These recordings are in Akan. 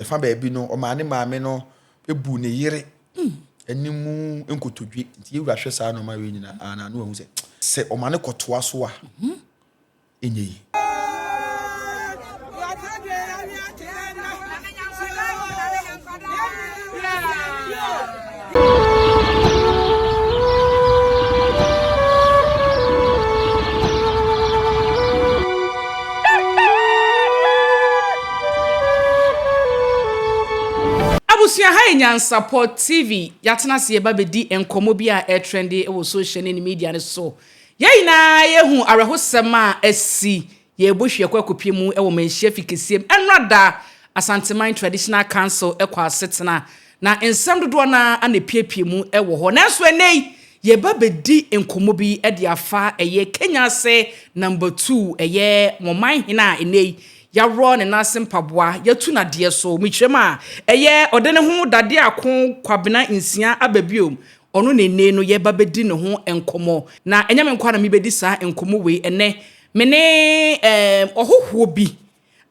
Ɛfa baabi no, ɔmaa ne maame no buu ne yere anim nkotodwe. Nti yɛn wura hwɛ saa nneɛma wei nyinaa a, na ano ahu sɛ sɛ ɔma no kɔtoa so a, ɛnyɛ yie. Abusua ha yɛ Nyansapɔ TV. Yɛatena ase yɛba bɛdi nkɔmmɔ bi a ɛretrɛnde wɔ social ne ne media no so. Yɛn nyinaa yɛahu awerɛhosɛm a asi Yɛɛbu hwɛ kɔ akopie mu wɔ manhyia fi keseɛ mu ɛnora da Asanteman Traditional Council kɔ asetena na nsɛm dodoɔ no ara na ɛpiepie mu wɔ hɔ nanso ɛnɛ yi yɛɛba bɛdi nkɔmmɔ bi de afa ɛyɛ Kenya ase number two ɛyɛ wɔman hene a ɛnɛ yi yaworɔ ne nan ase mpaboa yatu no adeɛ so mekyerɛm a ɛyɛ ɔde ne ho dadeɛ ako Kwabena nsia aba biom Ɔno na ennɛyi no yɛreba bɛdi ne ho nkɔmmɔ. Na ɛnyɛ me nko ara na mebɛdi saa nkɔmmɔ wei ɛnnɛ. Me ne ɛɛm ɔhohoɔ bi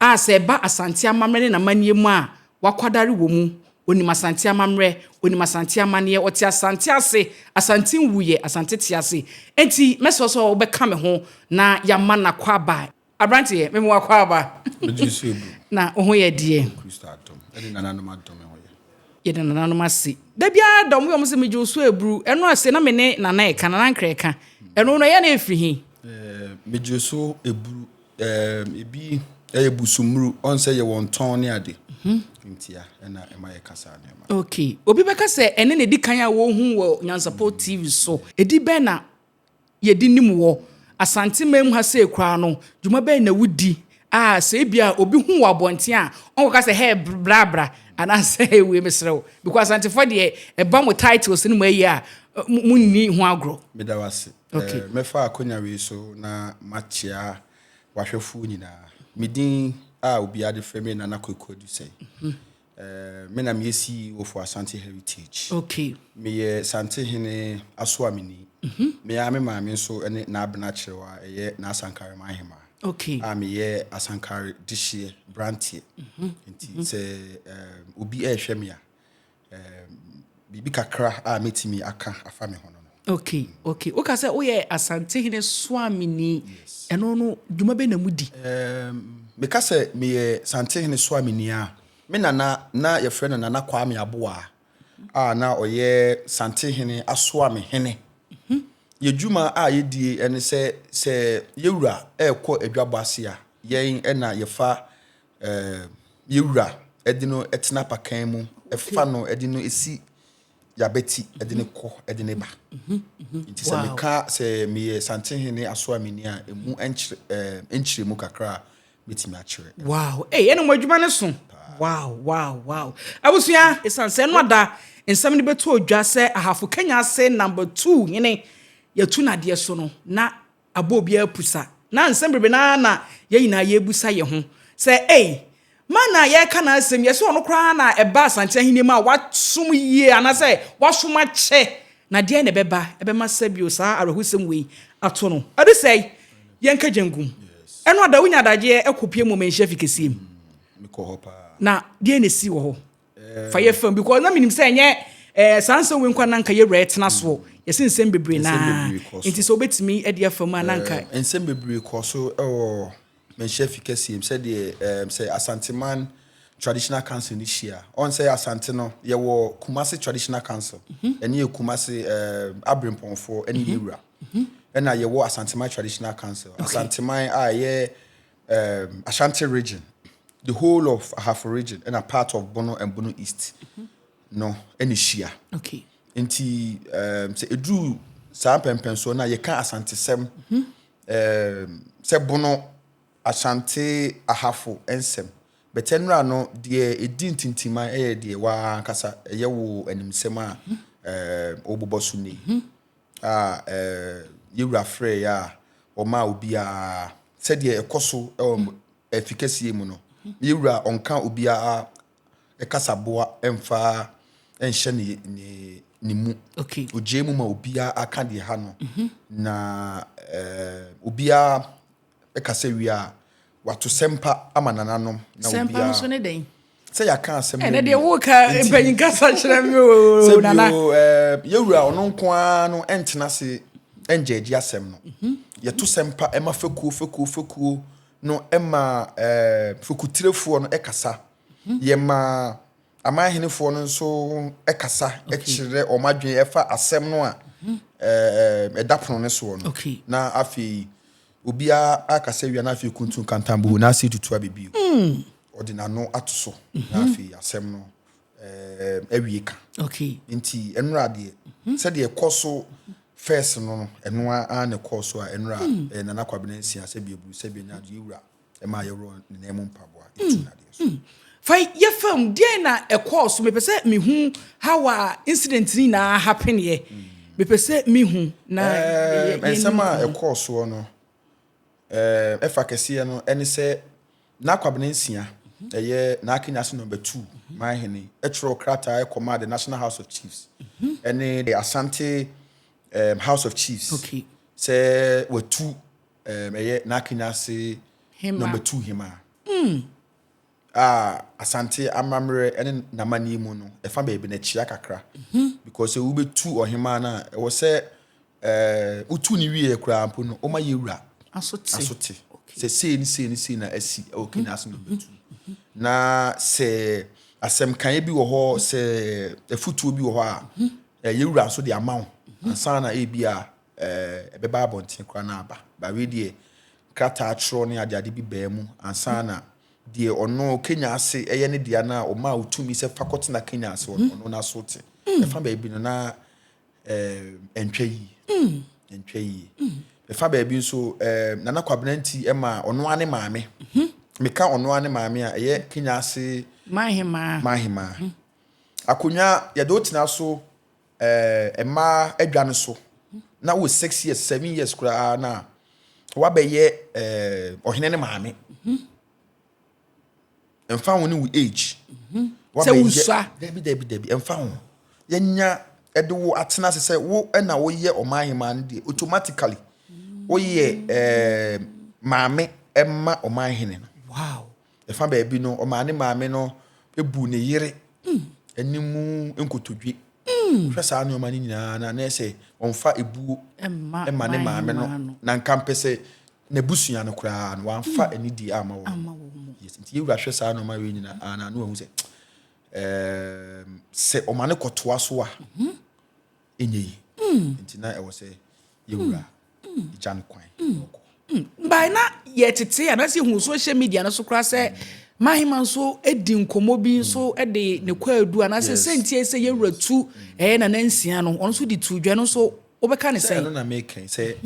a sɛ ɛba Asante amammerɛ ne n'amanneɛ mu a, wakwadare wɔ mu. Ɔnim Asante amammerɛ, ɔnim Asante amanneɛ, ɔte Asante ase, Asante nwuiɛ, Asante tease. Enti mɛsrɛ wo sɛ wobɛka me ho na yɛama no akwaaba. Aberanteɛ, mema wo akwaaba. Wogye wo sɛ obu. Na wo ho yɛ deɛ. Yɛde Kristo adom. Yɛde nananom adom ho yɛ. Yɛde nananom ase. Da biara da wɔn yɛ wɔn sɛ megye wo so aburu. Ɛno a se na me ne Nana reka, Nana Ankrɛ reka. Ɛno no, ɛyɛ na ɛfiri he? Ɛɛm, megye wo so aburu. Ɛɛm, ebi ɛyɛ busumuru. Ɔn sɛ yɛwɔ ntɔn ne ade. Nti a, ɛna ɛma yɛka saa nneɛma. Okay. Obi bɛka sɛ ɛnne na ɛdi kan a wɔhu wɔ Nyansapɔ TV so. Ɛdi bɛn na yɛde nim wɔ Asantemanmu ha sei koraa no, dwuma bɛn na wodi a sɛ ebia obi hu wɔ abɔnten a, ɔnkɔka sɛ, hey, bra bra, anaasɛ hey, wei mesrɛ wo. Because Asantefoɔ deɛ, ɛba mo titles no mu ayi a, monni ho agorɔ. Meda wo ase. Okay. Eh, mɛfa akonya wei so na makyea wahwɛfoɔ nyinaa. Me din a obiara de frɛ me Nana Kwaku Adusɛe. Eh, me na meyɛ CEO for Asante Heritage. Okay. Meyɛ Sante hene Asoamini. Mm -hmm. Me ara me maame nso ne n'abena kyerɛw a ɛyɛ n'asankare man hema. Okay. A meyɛ asankare dehyeɛ branteɛ. Mm -hmm. Nti mm -hmm. sɛ um, obi ɛrehwɛ me a um, Biribi kakra a mɛtumi aka afa me ho no no. Ok, ok. Woka sɛ woyɛ Asantehene Soameni, ɛno no dwuma bɛn na modi? Erm, meka sɛ meyɛ Santehene Soameni a, me nana na yɛfrɛ no Nana Kwame Aboah a na ɔyɛ Santehene Asoame Hene. Yɛ dwuma a yɛdie ɛne sɛ, sɛ yɛwura ɛɛkɔ adwabɔ ase a, yɛn ɛna yɛfa yɛ wura de no tena apakan mu fa no de no si yabati de no kɔ de no ba nti sɛ meka sɛ meyɛ santehene aso a meni a ɛmu nkyerɛ mu kakra a mɛtumi akyerɛ wow hey, ɛne mo adwuma no so wow wow wow abusua ɛsiane sɛ ɛno ada nsɛm no bɛtu odwa sɛ ahafo kanya ase number two hene yɛtu nadeɛ so no na abɔ obiara pusa. Ná nsɛm bebrebe no ara na yɛn nyinaa yɛrebisa yɛn ho sɛ, 'Ei, Marna a yɛreka n'asɛm yi, ɛsɛ ɔno koraa na ɛba Asante Ahenni mu a wasom yie anaasɛ wasom akyɛ, na deɛn na ɛbɛba ɛbɛma sɛ bio saa awerɛhosɛm wei ato no? Ɛde sɛe yɛn kagyankum. Ɛno a da wonya adagyeɛ kɔpue mmom nhyɛ afi kɛseɛ mu. Na deɛn na ɛsii wɔ hɔ? Fa yɛ fam because na menim sɛ ɛnyɛ ɛɛ saa nsɛm wei nkwa na nka yɛwura ɛtena soɔ mm. yɛsi nsɛm bebree na nti sɛ wobɛtumi ɛde afa mu a na nka eh, nsɛm bebree kɔ so ɛwɔ manhyia fi kɛseɛ mu sɛdeɛ eh, sɛ asanteman traditional council no hyia ɔn sɛ asante no yɛwɔ kumase traditional council mhm. ɛne yɛ kumase eh, aberempɔnfoɔ ɛne mhm. yɛwura mhm. ɛna yɛwɔ asanteman traditional council asanteman a ɛyɛ um, Ashanti region, the whole of Ahafo region, and a part of Bono and Bono East. Mm-hmm. No, and Shia. Okay. Nti, um, say Edru saa mpɛmpɛnsoɔ no a yɛka asantesɛm mm-hmm. um, sɛ bono asante ahafo nsɛm bɛtɛ nnora no deɛ ɛdi ntintima ɛyɛ deɛ waa ankasa ɛyɛ wo animsɛm a mm-hmm. um, wɔbobɔ so nei mm-hmm. a yɛn Wura frɛɛ yɛ a ɔmaa obiara sɛdeɛ ɛkɔ so wɔ afi kɛseɛ mu no yɛn Wura ɔnka obiara kasaboa mfa nhyɛ ne ne ne mu okay ogyee mu ma obiara aka deɛ ha no mhm. na obiara Ɛka sɛ wie a, wɔato sɛmpa ama nananom na obiara. Sɛmpa no so ne dɛn? Sɛ yɛaka asɛm no. Ɛnɛ deɛ woka mpanyin kasa kyerɛ me o nana. Sɛ bio eh, yɛwura ɔno nko ara no ɛntena ase ɛngyɛ agye asɛm no. Mhm. Yɛto sɛmpa ɛma fekuo fekuo fekuo no ɛma eh, fekutirefo no ɛkasa. Mhm. Yɛma. Amanhenefoɔ no nso kasa kyerɛ wɔn adwene ɛfa asɛm no a ɛda pono no soɔ no. Na afei obiara akasa wia na afei kuntun kantanbuhu na ase tutu abɛbio. Ɔde n'ano ato so na afei asɛm no awie ka. Nti ɛnora adeɛ sɛdeɛ ɛkɔ so fɛs no no ɛnoa a na ɛkɔɔ so a ɛnora Nana Kwabena nsia sɛbi aburu sɛbi anya adeɛ wura. ɛma yɛworɔ ne nan mu mpaboa mm, ɛtu nadeɛ so mm. fa yɛfa mu deɛ na ɛkɔɔ so mepɛ sɛ mehu how a incident no nyinaa hapeneɛ mm. mepɛ sɛ mehu na ɛnsɛm a ɛkɔɔ soɔ no ɛfa kɛseɛ no ɛne sɛ n'akwabena nsia mhm. ɛyɛ n'akenya so number two mhm. mahene ɛtwerɛ krataa ɛkɔmaa the national house of chiefs mhm. ɛne the asante um, house of chiefs sɛ watu Ɛyɛ n'akenya ase na matu hema. A Asante amammerɛ ne n'amanneɛ mu no, ɛfa baabi na ɛkyea kakra. Because sɛ wobɛtu ɔhema no a, ɛwɔ sɛ wotu no wieɛ koraa mpo no, woma yɛ wura asote. Sɛ sei ne sei ne sei na asi wɔ Kenya ase na wobɛtu. Na sɛ asɛm kaeɛ bi wɔ hɔ, sɛ afutuo bi wɔ hɔ a, yɛ wura nso de ama wo. Ansa na ebi a eh, ɛbɛba abɔnten koraa na aba. Ba wei deɛ, krataa twerɛ ne adeade bi baa mu ansa na deɛ ɔno Kenya ase ɛyɛ ne dea na ɔmaa otumi sɛ fa kɔtena Kenya ase ɔno mm. n'aso te. Mm. Ɛfa baabi no na eh, ɛntwa yie. Mm. Ɛntwa yie. Ɛfa baabi nso eh, Nana Kwabena nti ɛma ɔno ne maame. Mm-hmm. Meka ɔno ne maame a ɛyɛ Kenya ase. Mahemaa. Mahemaa. Mm-hmm. Akonnwa yɛde otena so. eh, mmaa adwa no so na wo six years seven years koraa na wabɛyɛ eh, ɔhene ne maame mfa ho ne wo age sɛ wosua dabi dabi dabi mfa ho yɛnya ɛde wo atena ase sɛ wo na woyɛ ɔman hemaa no deɛ automatically woyɛ eh, maame ɛma ɔman hene no wow Ɛfa baabi no, ɔmaa ne maame no buu ne yere anim nkotodwe. Hwɛ saa nneɛma no nyinaa na na sɛ ɔmfa ebuo ma ne maame no na nka mpɛ sɛ n'abusua no koraa no wamfa mm. anidie ama wɔn. Yes, nti yɛwura hwɛ saa nneɛma wei nyinaa na na wahu sɛ sɛ ɔma no kɔtoa so a mhm. ɛnyɛ yi nti na ɛwɔ sɛ yɛwura gya no kwan na ɔkɔ mbae na yɛtete anaasɛ yɛhu social media no so koraa sɛ mahema nso di nkɔmmɔ bi nso de ne kwaadu anaasɛ sɛntiɛ sɛ yɛwura tu ɛyɛ nana nsia no ɔno nso de tu dwa no nso wobɛka ne sɛn ɛno na mekɛn sɛ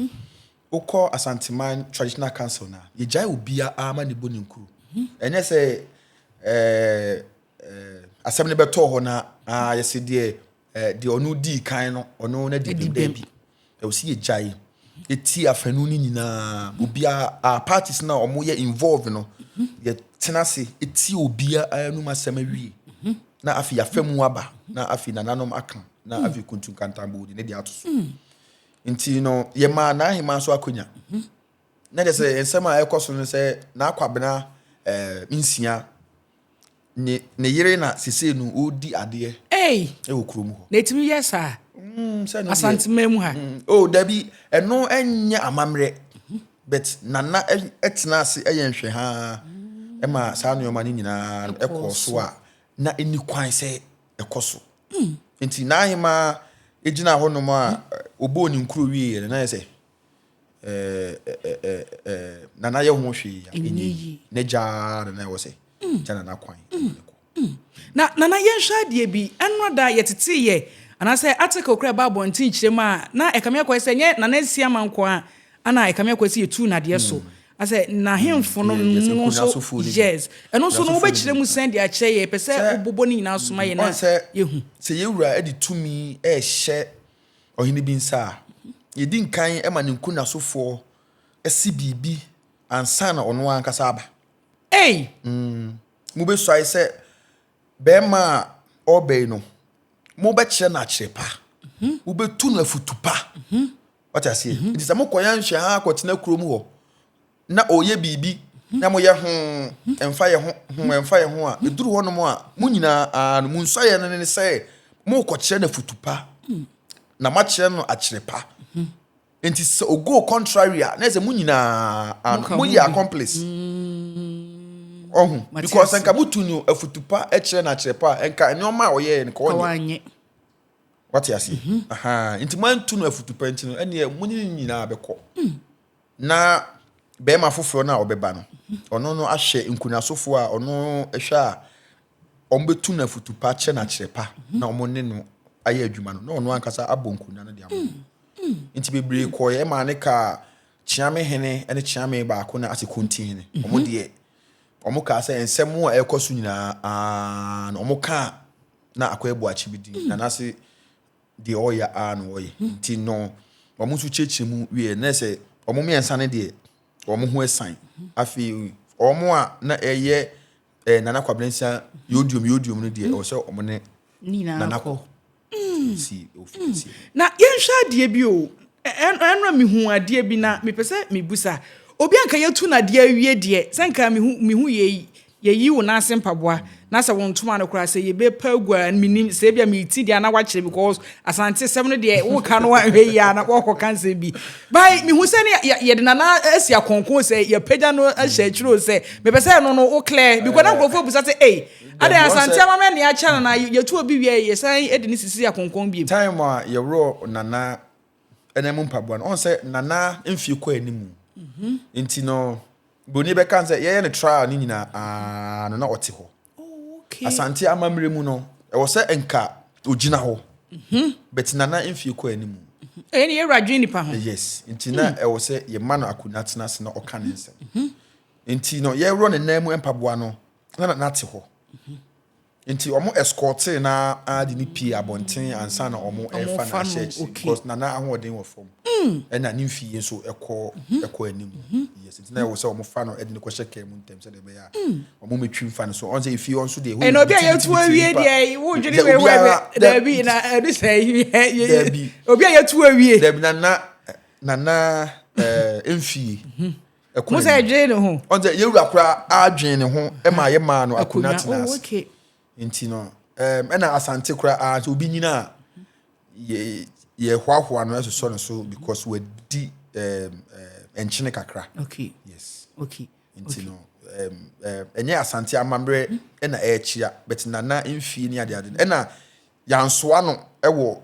wokɔ asanteman traditional council no a yɛgyae obiaa ma ne bɔ ne nkuro ɛnyɛ sɛ asɛm no bɛtɔɔ hɔ no a yɛsɛ deɛ Eh, deɛ ɔno dii kan no, ɔno no adi bem daabi. Ɛwɔ sɛ yɛgyae ɛti afanu no nyinaa. Obiara, parties no a wɔyɛ involve no, yɛtena ase ɛti obiara anum asɛm awie. Na afei yɛafa mu aba, na afei nananom aka, na hmm. afei kuntu nkantambo de ne deɛ ato so. Hmm. Nti no, yɛmaa n'ahema so akonya. Hmm. Na kyɛ sɛ nsɛm a ɛkɔ so no sɛ n'akwabena eh, nsia ne ne yere na sesei no ɔredi adeɛ Ei, wɔ kurom hɔ. na ɛtumi yɛ saa Mm, sɛ no deɛ Asantema mu ha. mm, oh dabi ɛno ɛnyɛ amammerɛ but nana ɛ- ɛtena ase ɛyɛ nhwɛ haa ɛma saa nneɛma no nyinaa no Ɛkɔɔ ɛkɔɔ so so. a na ɛni kwan sɛ ɛkɔ so nti n'ahemaa ɛgyina hɔnom a ɛ, ɔbɔɔ ne nkuro wieɛ no na yɛ sɛ nana yɛ ho hwee a ɛnyɛ yi ne gyaa nana ɛwɔ sɛ mm. gya nana kwan mm. mm. na nana yɛnhwɛ adeɛ bi ɛnora da yɛteteyɛ anaasɛ article kora ɛba abɔnten kyerɛm a na ɛkame akɔɛ sɛ nyɛ nana asi ama nko a ana ɛkame akɔɛ sɛ yɛtu nadeɛ so asɛ n'ahemfo no no nso yes ɛno nso no wobɛkyerɛ mu sɛn de akyerɛ yɛ pɛ sɛ wobobɔ ne nyinaa soma yɛ na yɛhu sɛ yɛwura de tumi ɛhyɛ Ɔhene bi nsa a yɛdi nkan ma ne nkunnasofoɔ si biribi ansa na ɔno ankasa aba. Ei! Mm, mobɛsuae sɛ bɛrima a ɔreba yi no, mobɛkyerɛ no akyerɛ pa. Mobɛtu no afutu pa. Wate aseɛ? Nti sɛ mokɔyɛ nhwɛ ha akɔtena kurom hɔ, na ɔreyɛ biribi na moyɛ ho ɛmfa yɛ ho ho ɛmfa yɛ ho a ɛduru hɔnom a mo nyinaa no mo nsuayɛ no ne sɛ morekɔkyerɛ no afutu pa na moakyerɛ no akyerɛ pa nti sɛ ogo contrary a na sɛ mo nyinaa no moyɛ accomplice ɔho because nka motu no afutu pa kyerɛ no akyerɛ pa a nka nneɛma a ɔyɛɛ no ka ɔnyɛ wate aseɛ nti moantu no afutu pa nti no ɛneɛ mo ne no nyinaa bɛkɔ na barima foforɔ no a ɔbɛba no ɔno no ahyɛ nkunasofoɔ a ɔno hwɛ a wɔbɛtu no afutu pa kyerɛ no akyerɛ pa na wɔn ne no ayɛ adwuma no na ɔno ankasa abɔ nkonnwa no de ama mm, mm. nti bebree mm. kɔɛ ɛma ne kaa kyeame hene ne kyeame baako na ase konti hene mm-hmm. wɔn deɛ wɔn kaa sɛ nsɛm a ɛrekɔ so nyinaa na wɔn kaa na akɔ ɛbɔ akyi bi di na n'ase. deɛ ɔyɛ a na ɔyɛ nti no wɔn nso kyerɛkyerɛ mu wieɛ na sɛ wɔn mmiɛnsa no deɛ wɔn ho asan afei wɔn a na ɛyɛ ɛɛ nana kwabrɛnsa yodium yodium no deɛ ɔsɛ wɔn ne nana kɔ si ofi hmm. si. na yɛnhwɛ adeɛ bi o ɛnura mi hu adeɛ bi na mepɛ sɛ mebusa obi anka yɛtu no adeɛ awie deɛ sɛ nka mehu mehu yɛ yi Yɛyi wo nase mpaboa na sɛ wo ntoma no koraa sɛ yɛbɛ pa agu a menim sɛ ebia me ti deɛ na wakyerɛ because asante sɛm no deɛ wo ka no anhwɛ yi a na wɔkɔ ka nsɛm bi by mehu sɛ ne yɛde nana asi akɔnkɔn sɛ yɛpagya no ahyɛ akyiri o sɛ mepɛ sɛ ɛno no wo clear because na nkurɔfoɔ abusa sɛ ei adɛn asante ama mɛ ne akyɛ nana yɛtu obi wie yɛsan de ne sisi akɔnkɔn biem. Time a yɛworɔ nana ɛna mu mpaboa no ɔn sɛ nana mfie kɔ anim nti no broni bɛka sɛ yɛyɛ no trial ne nyinaa aa no na ɔte hɔ oh, asante amammerɛ mu no ɛwɔ sɛ nka ogyina hɔ mhm. but nana mfie kɔ anim mhm. ɛyɛ ne yɛwura dwen nipa ho yes nti na hmm. ɛwɔ sɛ yɛma no akonnwa tena ase na ɔka ne nsɛm mhm. nti no yɛworɔ ne nan mu mpaboa no na nana te hɔ Nti wɔn escortee no ara de no pie abɔnten ansa na wɔn refa no ahyɛ akyire because na na ahoɔden wɔ fam ɛna ne mfie nso ɛkɔ ɛkɔ anim yes nti na ɛwɔ sɛ wɔn fa no ɛde no kɔhyɛ kaa mu ntɛm sɛdeɛ ɛbɛyɛ a wɔn mɛtwi mfa no so wɔn sɛ efie hɔ nso deɛ ɛhɔ yɛ obi a yɛtu awie deɛ wodwene wei hɔ ɛbɛ daabi na ɛde sɛ yɛ obi a yɛtu awie daabi na na na na ɛɛ mfie. Ɛko Musa n'anim. ɛdwene ne ho. Ɔn sɛ yɛwura koraa adwene ne ho ma yɛ maa no akonnwa Akonnwa. tena Oh, ase. okay. Nti no, ɛm, ɛna asante koraa sɛ obi nyina a, yɛ- yɛhoahoa no ɛsosɔ no so because wadi ɛm, ɛm, nkyene kakra. Okay. Yes. Okay. Nti no, ɛm, ɛm, ɛnyɛ asante amammerɛ ɛna ɛrekyia, but nana mfie ne adeade no. Ɛna Yɛansoa no wɔ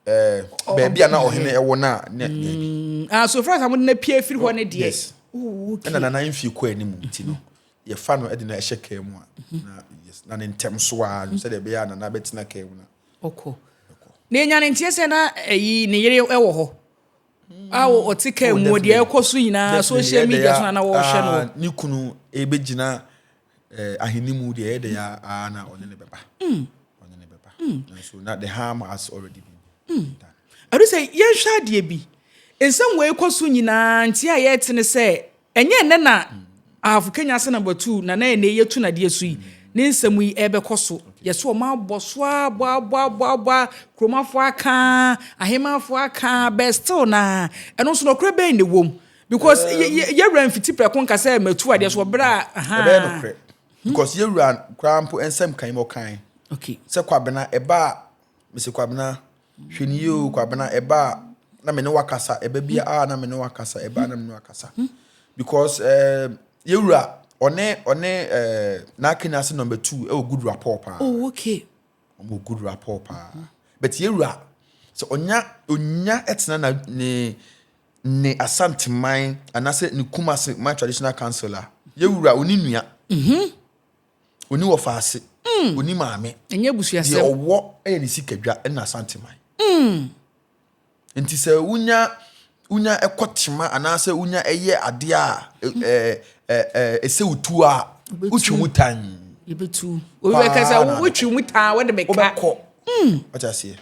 ɛɛ baabi a na ɔhene ɛwɔ na ne mm, baabi. Ah, so fura sa mo de na pie efiri hɔ ne deɛ. Yes. Oh, okay. Ɛna nana nfi kɔ anim nti no yɛfa no de na ɛhyɛ kaa mu a mhm. na yes na ne ntɛm so a no sɛ de bɛyɛ a nana bɛtena kaa mu na. Ɔkɔ. Na enya ne nteɛ sɛ na ɛyi ne yere ɛwɔ hɔ. Mm. A ɔte kaa oh, mu deɛ ɛkɔ so nyinaa social media so na na wɔhwɛ no. Ah, ne kunu ebegyina. Eh, ahenni mu deɛ ɛyɛ dɛ ya aa na ɔne ne bɛba. Mm. Ɔne ne bɛba. Mm. Nanso na the harm has already been mm. done. Ɛdu sɛ yɛnhwɛ adeɛ bi. Nsɛm wei kɔ so nyinaa nti a yɛte ne sɛ ɛnyɛ nnɛ na mm. ahafo Kenya sɛ number two na na ɛnɛ yɛtu nadeɛ so yi. Mm. Ne nsɛm yi ɛbɛkɔ so. Okay. Yɛsɛ ɔma abɔ so a bɔ abɔ abɔ abɔ kuromafoɔ aka ahemafoɔ aka bɛ still na ɛno nso nɔkorɛ bɛn na ɛwom. because yɛwura mfiti prɛko nka sɛ matu adeɛ so ɔbrɛ a ahaa ɛbɛyɛ nokorɛ hmm. because yɛwura koraa mpo nsɛm kan mu ɔkan okay sɛ kwabena ɛba a mese kwabena hwɛ ne yie o kwabena ɛba a na me ne wakasa ɛba bi a na me ne wakasa ɛba na me ne wakasa hmm. because eh, yɛwura ɔne ɔne eh, n'akenya ase number two ɛwɔ good rapport paa oh okay ɔmo good rapport paa but yɛwura sɛ ɔnya ɔnya ɛtena na ne ne Asante man anaasɛ ne Kumasi man traditional council a, yɛ wura ɔni nua, ɔni wɔfaase, ɔni maame. Ɛnyɛ abusuasɛm. Deɛ ɔwɔ yɛ ne sikadwa na Asante man. Nti sɛ wonya wonya ɛkɔ tema anaasɛ wonya ɛyɛ adeɛ a ɛsɛ wotu a, wotwe mu tan. Yɛbɛtu. Obi bɛka sɛ wotwe mu tan a, wode meka. Wobɛkɔ. Wate aseɛ?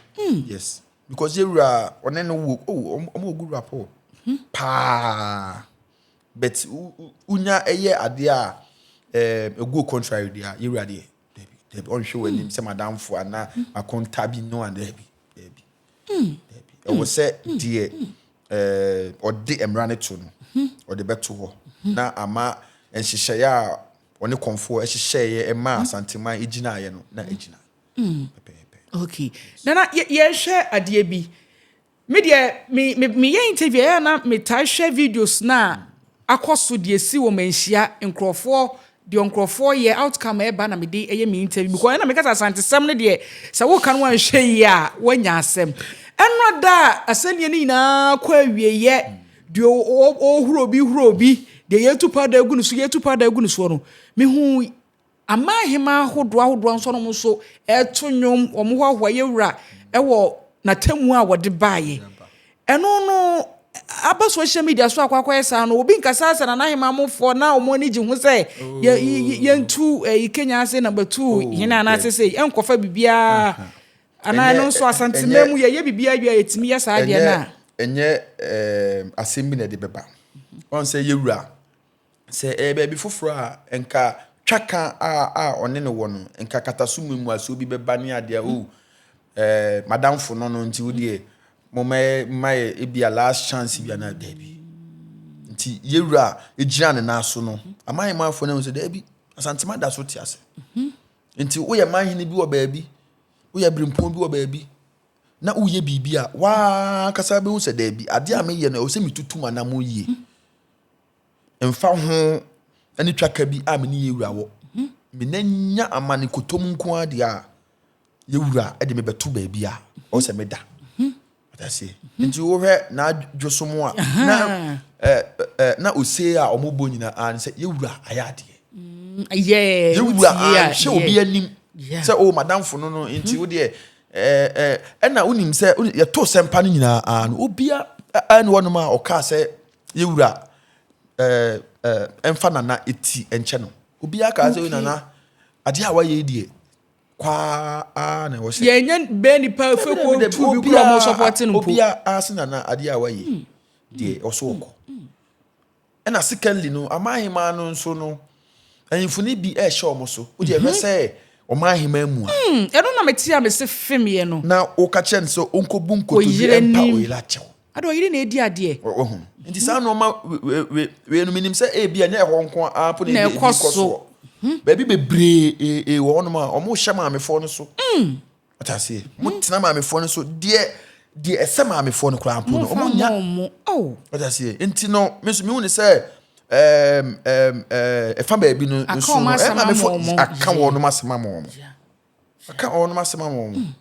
Yes. because yɛ wura ɔne no wo oh ɔmo ɔmo good rapport hmm. paa but unya ɛyɛ adeɛ a ɛɛ eh, egu contrary deɛ yɛ wura deɛ dɛbi dɛbi ɔnhwɛ wɔn anim sɛ madamfo ana akɔnta bi no a dɛbi dɛbi dɛbi ɛwɔ sɛ deɛ ɛɛ ɔde mmara no to no ɔde bɛto hɔ na ama nhyehyɛeɛ a ɔne kɔnfoɔ ɛhyehyɛeɛ ɛma asanteman egyinaeɛ no na egyina. Mm. Okay. Nana, yɛhwɛ adeɛ bi. Me deɛ, me, me, meyɛ interview ɛyɛ na metaa hwɛ videos na akɔ so deɛ si wɔ manhyia nkurɔfoɔ deɛ nkurɔfoɔ yɛ outcome ɛba na mede ɛyɛ me interview because ɛna meka sɛ asantesɛm no deɛ sɛ woka no anhwɛ yi a woanya asɛm ɛnora da a asɛnniɛ no nyinaa kɔ awieyɛ deɛ ɔhuro bi huro bi deɛ yɛtu pa da agu no so yɛtu pa da agu no soɔ no mehu Aman hemaa ahodoɔ ahodoɔ nso nom nso ɛreto nnwom, wɔn hoahoa yɛ wura wɔ n'atemmuo a wɔde baeɛ. Ɛno no aba social media so akɔ akɔyɛ saa no, obi nkasa sɛ Nana Hemaa mofoɔ na wɔn ani gye ho sɛ yɛntu ɛyi Kenya ase number two oh, hene anaasɛ sɛ ɛnkɔfa biribiara. Anaa ɛno nso asantema mu yɛyɛ biribiara wie a yɛtumi yɛ saa deɛ no a. Ɛnyɛ asɛm bi na ɛde bɛba. Ɔn sɛ yɛwura Sɛ ɛyɛ baabi foforɔ a, nka twaka a a ɔne no wɔ no, nka kataso mu mmuasoɔ bi bɛba ne adeɛ a, oh, eh, madamfo no no nti wodeɛ moma ma yɛ ebi a last chance bi anaa daabi. Nti yɛwura a ɛgyina ne nan so no, ama yɛ manfoɔ no ahu sɛ daabi, Asantema da so te ase. Nti woyɛ manhene bi wɔ baabi, woyɛ berempɔn bi wɔ baabi, na woyɛ biribi a, waa kasa bɛhu sɛ daabi, adeɛ a meyɛ no, ɛwɔ sɛ metutu m'anamo yie. Ɛmfa ho ne twaka bi a me ne yɛn wura wɔ, me nna nya amane kotom nko ara deɛ a, yɛn wura de me bɛto baabi a ɔwɔ sɛ meda. Ɔdaseɛ. Nti wohwɛ n'adwosom a, na ɛ ɛ na ose a wɔn bɔ nyinaa no sɛ yɛn wura ayɛ adeɛ. Yɛɛ. Yɛn wura anhwɛ obi anim sɛ o madamfo no no nti wo deɛ ɛɛ ɛna wonim sɛ yɛto sɛmpa no nyinaa no obia ɛne wɔnom a ɔkaa sɛ. Yɛ wura ɛmfa nana ti nkyɛ no obiara kaa sɛ nana adeɛ a wayɛ deɛ kwaa na ɛwɔ sɛ yɛnyɛ bɛɛ nipa fɛ kɔ tu bi kura ɔmo sɔpɔte no mpo obiara se nana adeɛ a wayɛ hmm. deɛ ɔso hmm. ɔkɔ hmm. ɛna secondly no ama ahema no nso no ahemfo no bi ɛhyɛ ɔmo so wodi ɛhwɛ mhm. sɛ ɔmo ahema mu a ɛno na mete a mese fem yɛ no na woka kyerɛ no sɛ ɔnkɔbu nkotodwe mpa oyera kyɛw Ada ɔyere na edi adeɛ. Wahu. Nti saa nnoɔma weinom menim sɛ ebi ɛnyɛ ɛhɔ nko ara mpo na ebi kɔ soɔ. Baabi bebree wɔ hɔnom a wɔn hyɛ maamefoɔ no so. Ɔte aseɛ. Wɔn tena maamefoɔ no so deɛ deɛ ɛsɛ maamefoɔ no koraa mpo no wɔn nya. Ɔte aseɛ. Nti no me nso mehu ne sɛ ɛɛm ɛɛm ɛɛ ɛfa baabi no nso no ɛɛ maamefoɔ aka wɔn asɛm ama wɔn. Aka wɔn asɛm ama wɔn.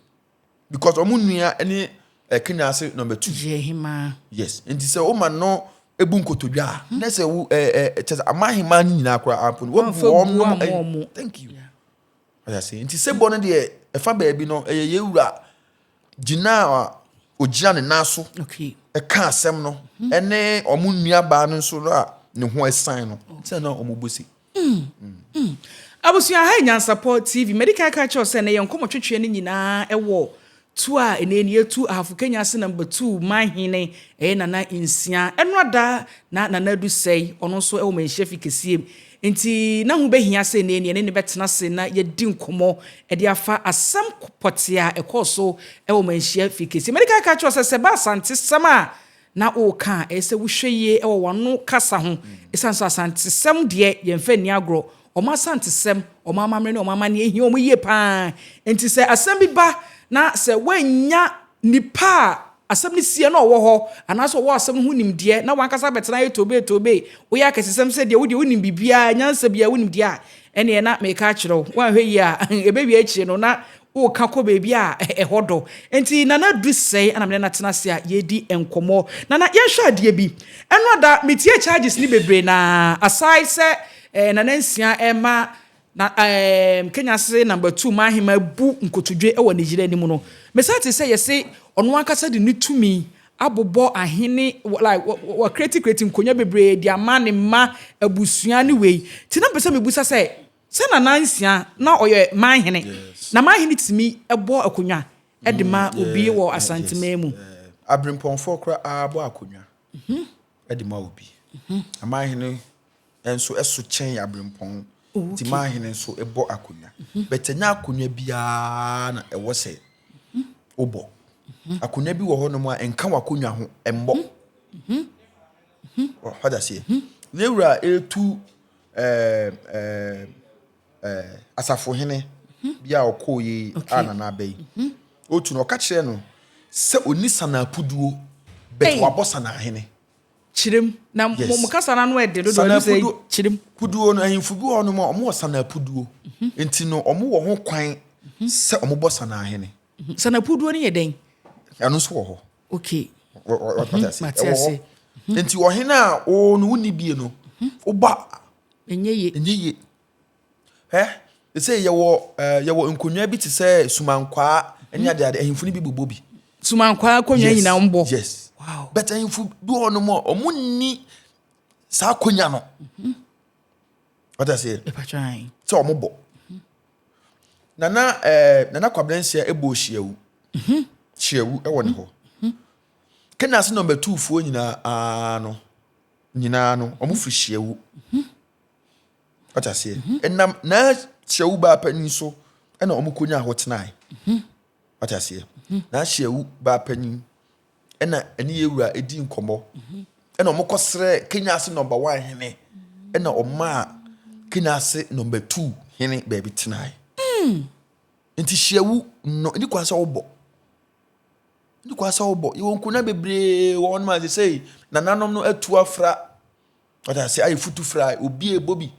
because ɔmo nua ne ɛkenya ase number two. Gyehima. yes nti sɛ woma no ebu nkotodwe a na sɛ wo ɛɛ eh, ɛɛ eh, kyɛ sɛ ama ahema no nyinaa koraa ampo no wabu wɔn nom ɛyi thank you ɔyɛ ase nti sebɔ no deɛ ɛfa baabi no ɛyɛ yɛ wura gyina a ogyina ne nan so ɛka asɛm no ɛne wɔn nua baa no nso no a ne ho ɛsan no sɛ na wɔn bɔ si. Mm. Abusua, ha yɛ Nyansapɔ TV. Madi kan aka kyerɛw sɛ na yɛn nkɔmɔ twetweɛ no nyinaa ɛwɔ tu a ɛnɛ ni etu Ahafo Kenya ase namba tu manhene ɛyɛ Nana Nsia. Ɛno ada na Nana Adu Sɛe ɔno nso ɛwɔ manhyia fi kɛsiem. Nti na ho bɛhia sɛ ɛnɛ ni ɛne ne bɛtena ase na yɛdi nkɔmɔ ɛde afa asɛm pɔtea ɛkɔɔ so ɛwɔ manhyia fi kɛsiem. Madi kan aka kyerɛw sɛ sɛ ba Asante sɛm a na woreka a, ɛyɛ sɛ wohwɛ yie wɔ w'ano kasa ho, ɛsiane sɛ Asantesɛm deɛ, yɛmfa nni agorɔ. Wɔn Asantesɛm, wɔn amammerɛ ne wɔn amanneɛ hia wɔn yie pa ara. Enti sɛ asɛm bi ba na sɛ woannya nipa a asɛm no siiɛ na ɔwɔ hɔ, anaasɛ ɔwɔ asɛm no ho nimdeɛ, na w'ankasa abɛtena ayɛ toobee toobee, woyɛ akɛsesɛm sɛ deɛ wodeɛ wonim biribiara, nyansa biara wonim deɛ a, ɛnneɛ na mereka akyerɛ wo, woanhwɛ yie a ɛbɛwie akyire no na woka kɔ baabi a ɛhɔ dɔ. Enti Nana Adu sɛe ɛna me ne no atena ase a yɛredi nkɔmmɔ. Nana, yɛnhwɛ adeɛ bi. Ɛno ada, metiee charges no bebree na aside sɛ eh, Nana Nsia rema na eh, Kenya se number two ma ahema bu nkotodwe wɔ ne yere anim no, mesan tee sɛ yɛse ɔno ankasa de ne tumi abobɔ ahene, like wa create create nkonya bebree de ama ne mma, abusua ne wei. Nti na mepɛ sɛ mebusa sɛ Sɛ na nansia na ɔyɛ man hene, na man hene tumi bɔ akonnwa de ma obi wɔ Asanteman mu. Abirempɔnfoɔ koraa bɔ akonnwa de ma obi. Na man hene nso so kyɛn abirempɔn, nti man hene nso bɔ akonnwa. But ɛnyɛ akonnwa biara na ɛwɔ sɛ wobɔ. Akonnwa bi wɔ hɔnom a nka w'akonnwa ho mmɔ. Wɔ hɔ daseɛ. Yɛwura ɛretu Asafohene bi a ɔkɔɔeɛ yi a Nana Aba yi ɔtu no, ɔka kyerɛɛ no sɛ ɔnni Sanaa puduo but wabɔ Sanaa hene. Kyerem. Na mo mo kasa no ano yɛ den dodo ɛno sɛ kyerem. Puduo no ahemfo bi wɔ hɔ nom a wɔwɔ Sanaa puduo nti no wɔwɔ ho kwan sɛ wɔbɔ Sanaa hene. Sanaa puduo no yɛ dɛn? Ɛno nso wɔ hɔ. okay mhm, mate ase mhm. nti ɔhene a o no wonni bie no mhm. woba ɛnyɛ ye ɛnyɛ ye ɛ sɛ yɛwɔ yɛwɔ nkonnwa bi te sɛ sumankwaa ne adeade ahemfo no bi bobɔ bi sumankwaa akonnwa nyinaa mbɔ yes wow but ahemfo bi hɔ nom a wɔn nni saa akonnwa no wata seɛ sɛ ɔmo bɔ mhm. nana ɛɛ eh, nana kwabena nsia ɛbɔ hyiawu mhm. hyiawu ɛwɔ ne hɔ mhm. kenya ase nɔmba tuu foɔ nyinaa aa no nyinaa no ɔmo firi hyiawu wata seɛ ɛnam naa hyiawu baa panin so ɛna ɔmo konya hɔ tenae wate aseɛ n'ahyɛ awu baa panyin ɛna ɛne yɛ wura ɛdi nkɔmmɔ ɛna wɔn kɔ srɛ kenya ase nɔmba one hene ɛna ɔmaa kenya ase nɔmba two hene baabi tenae hmm. nti hyɛ awu no ɛni kwan sɛ wobɔ ɛni kwan sɛ wobɔ yɛwɔ nkonnwa bebree wɔn ma sɛ sɛ nananom no atu afra wate aseɛ ayɛ futu fra obi ɛbɔ bi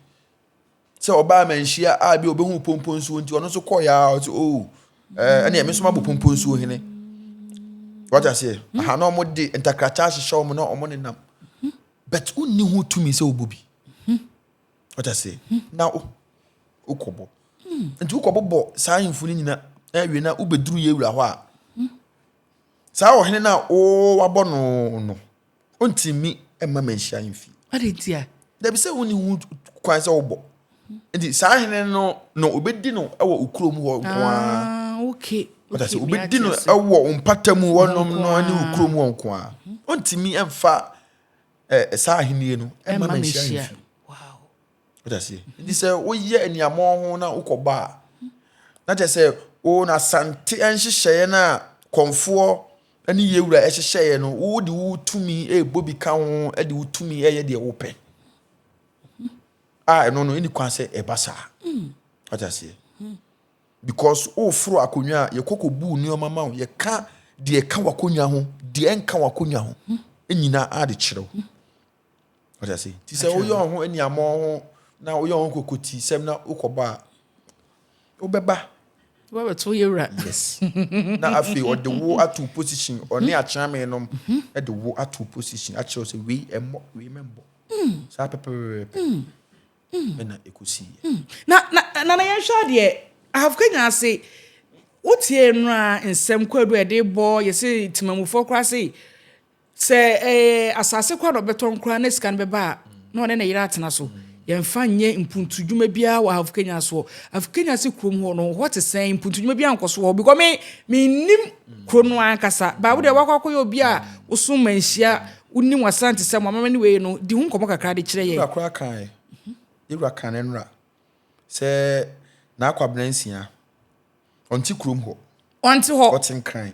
sɛ ɔbaa amanhyia a bi obehu pomponsuo nti ɔno nso kɔɔeɛ a ɔte o oh, eh, ɛne ɛme nso mabɔ pomponsuo hene wata seɛ hmm. aha na ɔmo de ntakrata ahyehyɛ ɔmo na ɔmo nenam hmm. but wonni ho tumi sɛ wobɔ bi hmm. wata seɛ na wokɔbɔ nti wokɔbɔ bɔ saa ahemfo no nyina awie na wobɛduru yɛ wura hɔ a saa ɔhene no a wowabɔ no no Ontumi mma me nhyira mfi. Adɛn nti a? Dabi sɛ wonni ho kwan sɛ wobɔ. Nti saa hene no na obedi no wɔ okurom hɔ nko ara. Ah, okay. Ɔda sɛ obedi no wɔ mpata mu wɔnom no ne okurom hɔ nko ara. Ontumi mfa saa ahenni no mma me nhyira mfi. Ɔda sɛ nti sɛ woyɛ aniamɔ ho na wokɔbɔ a, na kyerɛ sɛ wo na asante nhyehyɛeɛ no a kɔmfoɔ ne yɛn Wura hyehyɛeɛ no, wode wo tumi rebɔ bi ka ho de wo tumi reyɛ deɛ wopɛ. A ɛno no ɛni kwan sɛ ɛba saa. Wata aseɛ. Because woforo akonnwa a yɛkɔkɔ bu nneɛma ma wo yɛka deɛ ɛka w'akonnwa ho deɛ ɛnka w'akonnwa ho nyinaa ade kyerɛ wo. Wata se ti sɛ woyɛ wo ho aniamɔ ho na woyɛ wo ho kokoti sɛm na wokɔba a wobɛba wobɛbɛto woyɛ wura yes na afei ɔde wo ato position ɔne mhm. akyerɛme nom mhm. de wo ato position akyerɛ sɛ wei ɛmmɔ wei mɛmbɔ mm. saa pɛpɛpɛpɛ mm. mm. ɛna ɛkɔsiiɛ na na na na yɛnhwɛ adeɛ ahafka nyinaa se wotie no a nsɛm kwadu a ɛde bɔ yɛsɛ timamufoɔ koraa se Sɛ ɛyɛ asase kwa na ɔbɛtɔ nkoraa na sika no bɛba a, na ɔne ne yere atena so. Yɛmfa nyɛ mpuntudwuma biara wɔ Afukenya soɔ. Afukenya se kurom hɔ no, hɔ te sɛn? Mpuntudwuma biara nkɔ so wɔ hɔ because me, mennim kuro no ankasa. But wo deɛ woakɔ akɔyɛ obi a woso manhyia, wonim w'Asantesɛm, w'amammerɛ ne wei no, di ho nkɔmmɔ kakra de kyerɛ yɛn. Yɛwura koraa kaeɛ, yɛwura kaa no nnora sɛ n'akwabena nsia, ɔnte kurom hɔ. Ɔnte hɔ. Ɔte Nkran.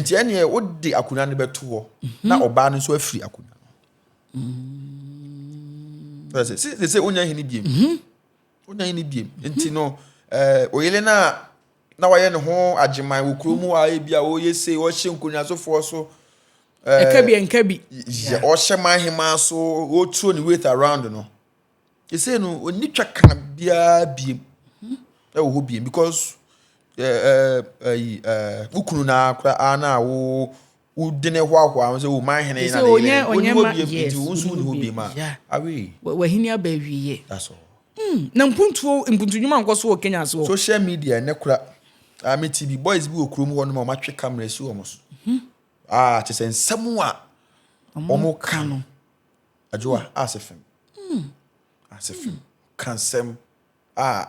Nti ɛneɛ wode akonnwa no bɛto hɔ mhm. na ɔbaa no nso afiri akonnwa no. Sɛ sɛ wonya hene biem. Mhm. Wonya hene biem. Nti no eh, oyele no a na wayɛ ne ho agyeman wɔ kurom hɔ a ebi a wɔyɛ sei wɔhyɛ nkonnwasofoɔ so. Eh, ɛka bi ɛnka bi. Ɔhyɛ man hemaa so wɔturo ne weight around no. Sesei no, ɔnni twaka biara biem wɔ hɔ biem because ɛyi wo kunu na koraa na wo wode ne hoahoa ho sɛ o man hene na ne yere ɔni hɔ biem nti wo nso wonni hɔ biem a awe. Wahini aba awieɛ. That's all. Hmm, na mpuntuo mpuntu nnwuma nkɔ so wɔ Kenya ase hɔ. Social media ɛnɛ kora a mete bi boys bi wɔ kurom hɔ nom a wɔatwe camera si wɔn so. Mhm. Ah, kyerɛ sɛ nsɛm a wɔn ka no. Adwoa Asafem Asafem ka nsɛm a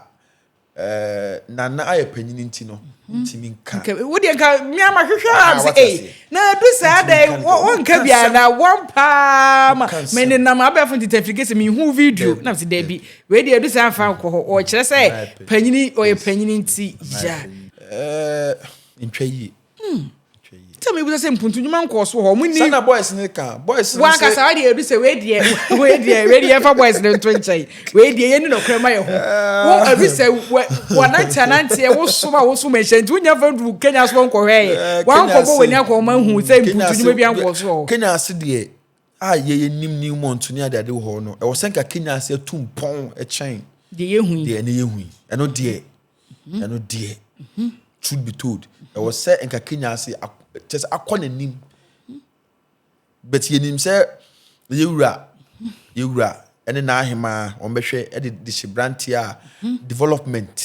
Nana ayɛ panyin nti no ntumi nka. Wo deɛ nka mmea ma hwehwɛ a sɛ ei na adu saa dɛ wɔnka bi a na wɔn paa ma me ne nam abɛɛfo ntitafiri kese me hu video na sɛ dɛbi wei deɛ adu saa mfa nkɔ hɔ ɔkyerɛ sɛ panyini ɔyɛ panyini nti gya. Ɛɛ ntwa yie. Hmm. Sɛ mi bisa sɛ mpuntu nnwuma nkɔɔ so wɔ hɔ, wɔn ni. Sanna boys ne ka boys ne sɛ. Wankasa wa deɛ edu sɛ wei deɛ wei deɛ wei deɛ yɛfa boys ne nto nkyɛn wei deɛ yɛn ni na ɔkura ma yɛ ho. Wo edu sɛ wɔ wɔnante anante yɛ wosom a wosom ɛhyɛ nti wonya fɛ du Kenya so nkɔhwɛ yɛ. Wankɔbɔ wɔn ni akɔ wɔn ahu sɛ mpuntu nnwuma bi ankɔɔ so wɔ hɔ. Kenya ase deɛ a yɛyɛ nim new month ne adeade wɔ hɔ no ɛwɔ sɛ nka Kenya ase atum pɔn ɛkyɛn. Deɛ yɛhu yi. Deɛ ne yɛhu yi ɛno deɛ. ɛno deɛ truth be told ɛwɔ sɛ nka kenya ase kyɛ sɛ akɔ n'anim but yɛnim sɛ yɛwura yɛwura ɛne n'ahemaa wɔn bɛhwɛ ɛde de hyɛ branteɛ a development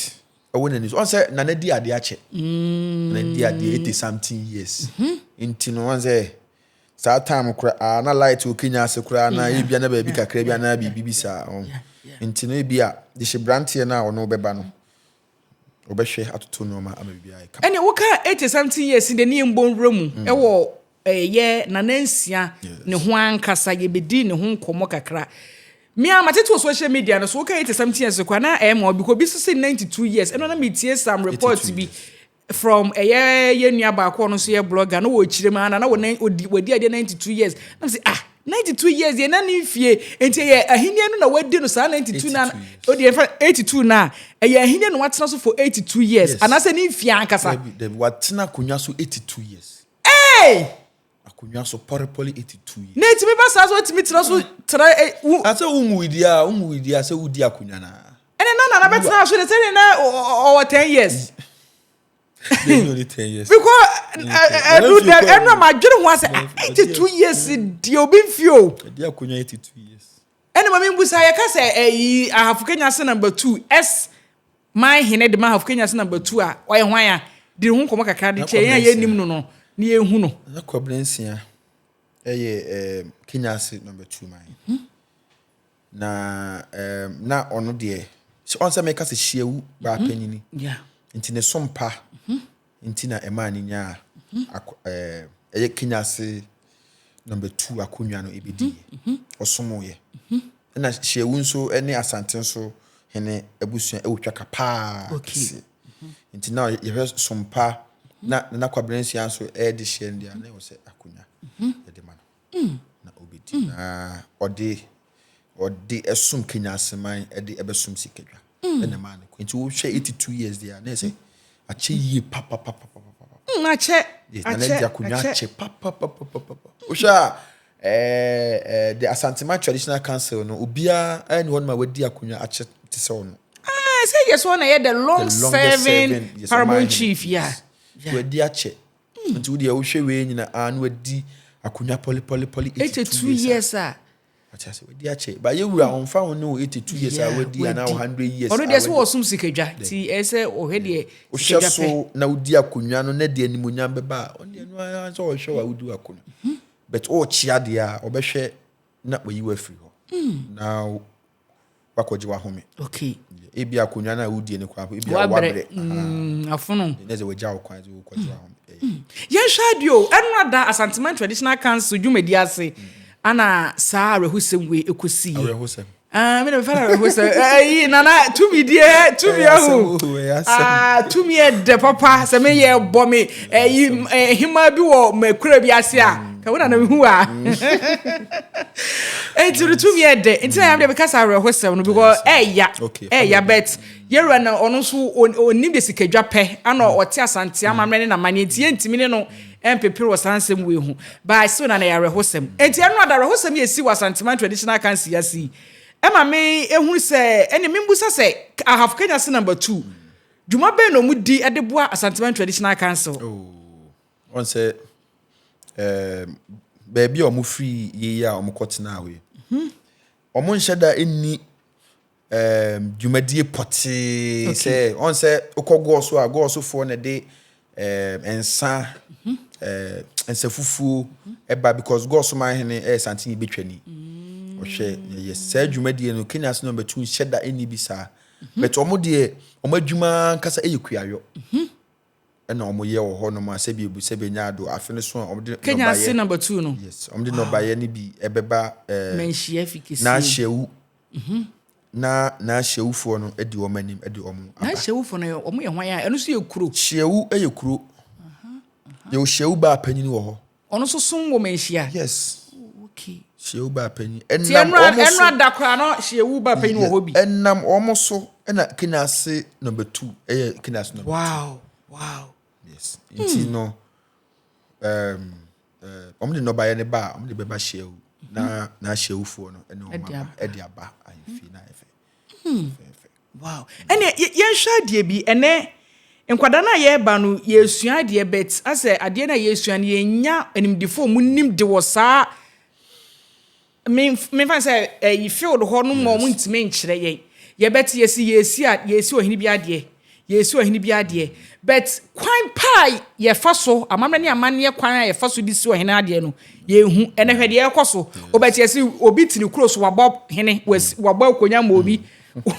ɛwɔ n'ani so wɔn sɛ nana di adeɛ akyɛ mm. nana di adeɛ eighty something years nti no wɔn sɛ. Saa time koraa na light okay nya ase koraa na yɛ bia na baabi kakra bi anaa biribi bi saa ho. Nti no ebia de hyɛ branteɛ no a ɔno bɛba no ɔbɛhwɛ atoto nneɛma ama biribi ayɛ kama. Ɛne wo kaa eighty something years ni de ne yɛ mbɔ nwura mu ɛwɔ ɛɛ yɛ nana nsia ne ho ankasa yɛ bɛ di ne ho nkɔmɔ kakra. Me a ma tete wɔ social media no so wo kaa eighty something years koraa na ɛyɛ ma wo bi kɔ bi so se ninety two years ɛno na me tie some report bi. From ɛyɛ yɛn nua baako ɔno nso yɛ blogger na wɔ kyerɛ mu ana na wɔn odi wɔdi adeɛ 92 years na wɔn sɛ ah 92 years yɛn na ne nfie nti ɛyɛ ahenni no na wɔadi no saa 92 na odi yɛn fa 82 na ɛyɛ ahenni na wɔatena so for 82 years anaasɛ ne nfie ankasa. Dabi dabi wɔatena akonnwa so 82 years. Hey! Akonnwa so pɔrepɔre eti tui. Na etumi ba saa sɛ otumi tena so tra e, wu. Na sɛ wunwui di a, wunwui di a sɛ wudi akonnwa no a. Ɛnna na Nana bɛtena aso de sɛdeɛ na ɔwɔ ten years. Yɛn yɛ ne ten years. Because ɛnu dɛ ɛnu a ma adwene ho asɛ eighty two years deɛ obi nfi o. Ɛdi akonnwa eighty two years. Ɛna ma mimmisa, yɛka sɛ ɛyi Ahafo Kenya se number two, S man hene de ma Ahafo Kenya se number two a, ɔyɛ hwan a? Di ne ho nkɔmmɔ kakra de kyerɛ yɛn a yɛnnim no no na yɛnhu no. Na Kwabena Nsia yɛ um, Kenya ase number two man. Hmm. Na um, na ɔno deɛ, ɔn sɛ meka sɛ hyiawu baa panyini. Yeah. Nti ne sompa. Hmm. nti na ɛmaa no nyaa ɛyɛ Kenya ase number two akonnwa no ebedi ɔsomoyɛ ɛna hyɛwu nso ne asante nso hene abusua ɛwɔ twaka paa kɛse nti na yɛhwɛ sompa na na kwabrɛnsia nso ɛde hyɛ ndia na ɛwɔ sɛ akonnwa yɛde ma no na obedi. Na ɔde ɔde ɛsom Kenya aseman ɛde ɛbɛsom sikadwa ɛna ɛmaa ne kɔ nti wohwɛ eighty two years deɛ a na ɛsɛ akyɛ yie papapapapapa. Mm, akyɛ yes na n'agya akonnwa akyɛ papapapapapa wohwɛ a ɛɛ ɛɛ the Asantema traditional council no obiara ɛni hɔ nom a wadi akonnwa akyɛ te sɛ ɔno. Ah, sɛ yɛ sɛ ɔna yɛ the long serving paramount chief ya. Wadi akyɛ. Mm. Nti wo deɛ wohwɛ wei nyina a na wadi akonnwa pɔlipɔlipɔli 82 years a. Ɔte ase wadi akyɛ. Ba yɛ wura ɔnfa ho ne wo 82 years a wadi anaa wo 100 years a wadi. Ɔno deɛ sɛ wɔsom sikadwa ti ɛsɛ ɔhwɛ deɛ sikadwa pɛ. Wohwɛ so na wodi akonnwa no na deɛ nimonyam bɛba a ɔno deɛ no ara sɛ ɔhwɛ wa wodi akonnwa. Mhm. But ɔrekyia deɛ a ɔbɛhwɛ na wayi wo afiri hɔ. Mm. Now wakɔgye wahome okay ebi akonnwa no a wodie no koraa ebi a wabrɛ mm, afono ɛnɛ sɛ wagya wo kwan sɛ wokɔgye mm. wahome eh. mm. yɛnhwɛ adeɛ o ɛnora da asanteman traditional council dwumadi ase ana saa awerɛhosɛm wei ɛkɔsii awerɛhosɛm Ah, mi na fana bɛ fɔsɛ ayi nana tumi diɛ tumi ahu aa tumi yɛ dɛ papa sɛ mi yɛ bɔ mi ɛyi ɛhima bi wɔ mɛ kura bi ase a. ka wo na na mehu a nti no tumi yɛ dɛ nti na yam deɛ meka saa awerɛhosɛm no because ɛya ɛya bet yɛwura na ɔno nso ɔnim de sikadwa pɛ ana mm. ɔte asante mm. amammerɛ ne namane nti yɛntumi ne no mpepere wɔ saa nsɛm wei ho baa so na na yɛ awerɛhosɛm nti ɛno ada awerɛhosɛm yɛ si wɔ asanteman traditional council yɛ si ɛma me ehunu sɛ ɛne me mbusa sɛ ahafo kenya se number two dwuma bɛn na wɔn di de boa asanteman traditional council. Oh. Wɔn sɛ ɛɛm baabi a wɔn firi yie a wɔn kɔ tena hɔ yi, mhm. wɔn nhyɛ da nni ɛɛm dwumadie pɔtee sɛ wɔn sɛ okɔ gɔɔso a gɔɔsofoɔ na ɛde ɛɛm nsa mhm. ɛɛm nsa fufuo mhm. ɛba because gɔɔso maa hene ɛyɛ santen yi betwa ni. Mm. Ɔhwɛ yɛ saa dwumadie no Kenya ase na wɔn bɛtu nhyɛ da nni bi saa. Bɛtɛ wɔn deɛ wɔn adwuma ankasa ɛyɛ kuayɔ. na wɔyɛ wɔ hɔnom a sɛbi ebu sɛ benya do afe no so a wɔde nnɔbaeɛ. Kenya ase number two no. Yes, wɔde nnɔbaeɛ no bi ɛbɛba ɛɛ. Manhyia fi kesie. N'ahyɛwu. Mhm. Na n'ahyɛwufoɔ no adi wɔn anim ɛde wɔn aba. N'ahyɛwufoɔ no wɔn yɛ hwan a ɛno nso yɛ kuro. Hyɛwu yɛ kuro. Yɛwɔ hyɛwu baa panyin wɔ hɔ. Ɔno nso som wɔ manhyia. Yes. Oh, okay. Hyeewu ba panyin. Ɛnam wɔn so. Ɛnura da koraa no hyeewu ba panyin wɔ hɔ bi. Ɛnam wɔn so ɛna kinase number two ɛyɛ kinase number two. Wow wow. Yes. Hmm. Nti no ɛɛm ɛɛ wɔn de nɔbayɛ ne ba a wɔn de bɛba hyeewu na na hyewufoɔ no ɛna wɔn aba ɛde aba ahemfie na ɛfɛ. Hmm. Wow ɛneɛ yɛ yɛnhwɛ adeɛ bi ɛnɛ nkwadaa no a yɛreba no yɛresua adeɛ but asɛ adeɛ no a yɛresua no yɛnya animdefoɔ ɔmo nim de wɔ saa me mefa sɛ ɛyi field hɔ no ma ɔmo Yes. ntumi nkyerɛ yɛn yɛbɛte yɛsi yɛresi a yɛresi ɔhene bi adeɛ yɛresi ɔhene bi adeɛ but kwan pa a yɛfa so amammerɛ ne amanneɛ kwan a yɛfa so de si ɔhene adeɛ no yɛnhu ɛnɛ hwɛ deɛ ɛrekɔ so o but Yes. yɛsi obi te ne kuro so wabɔ hene wasi wabɔ akonnwa ma obi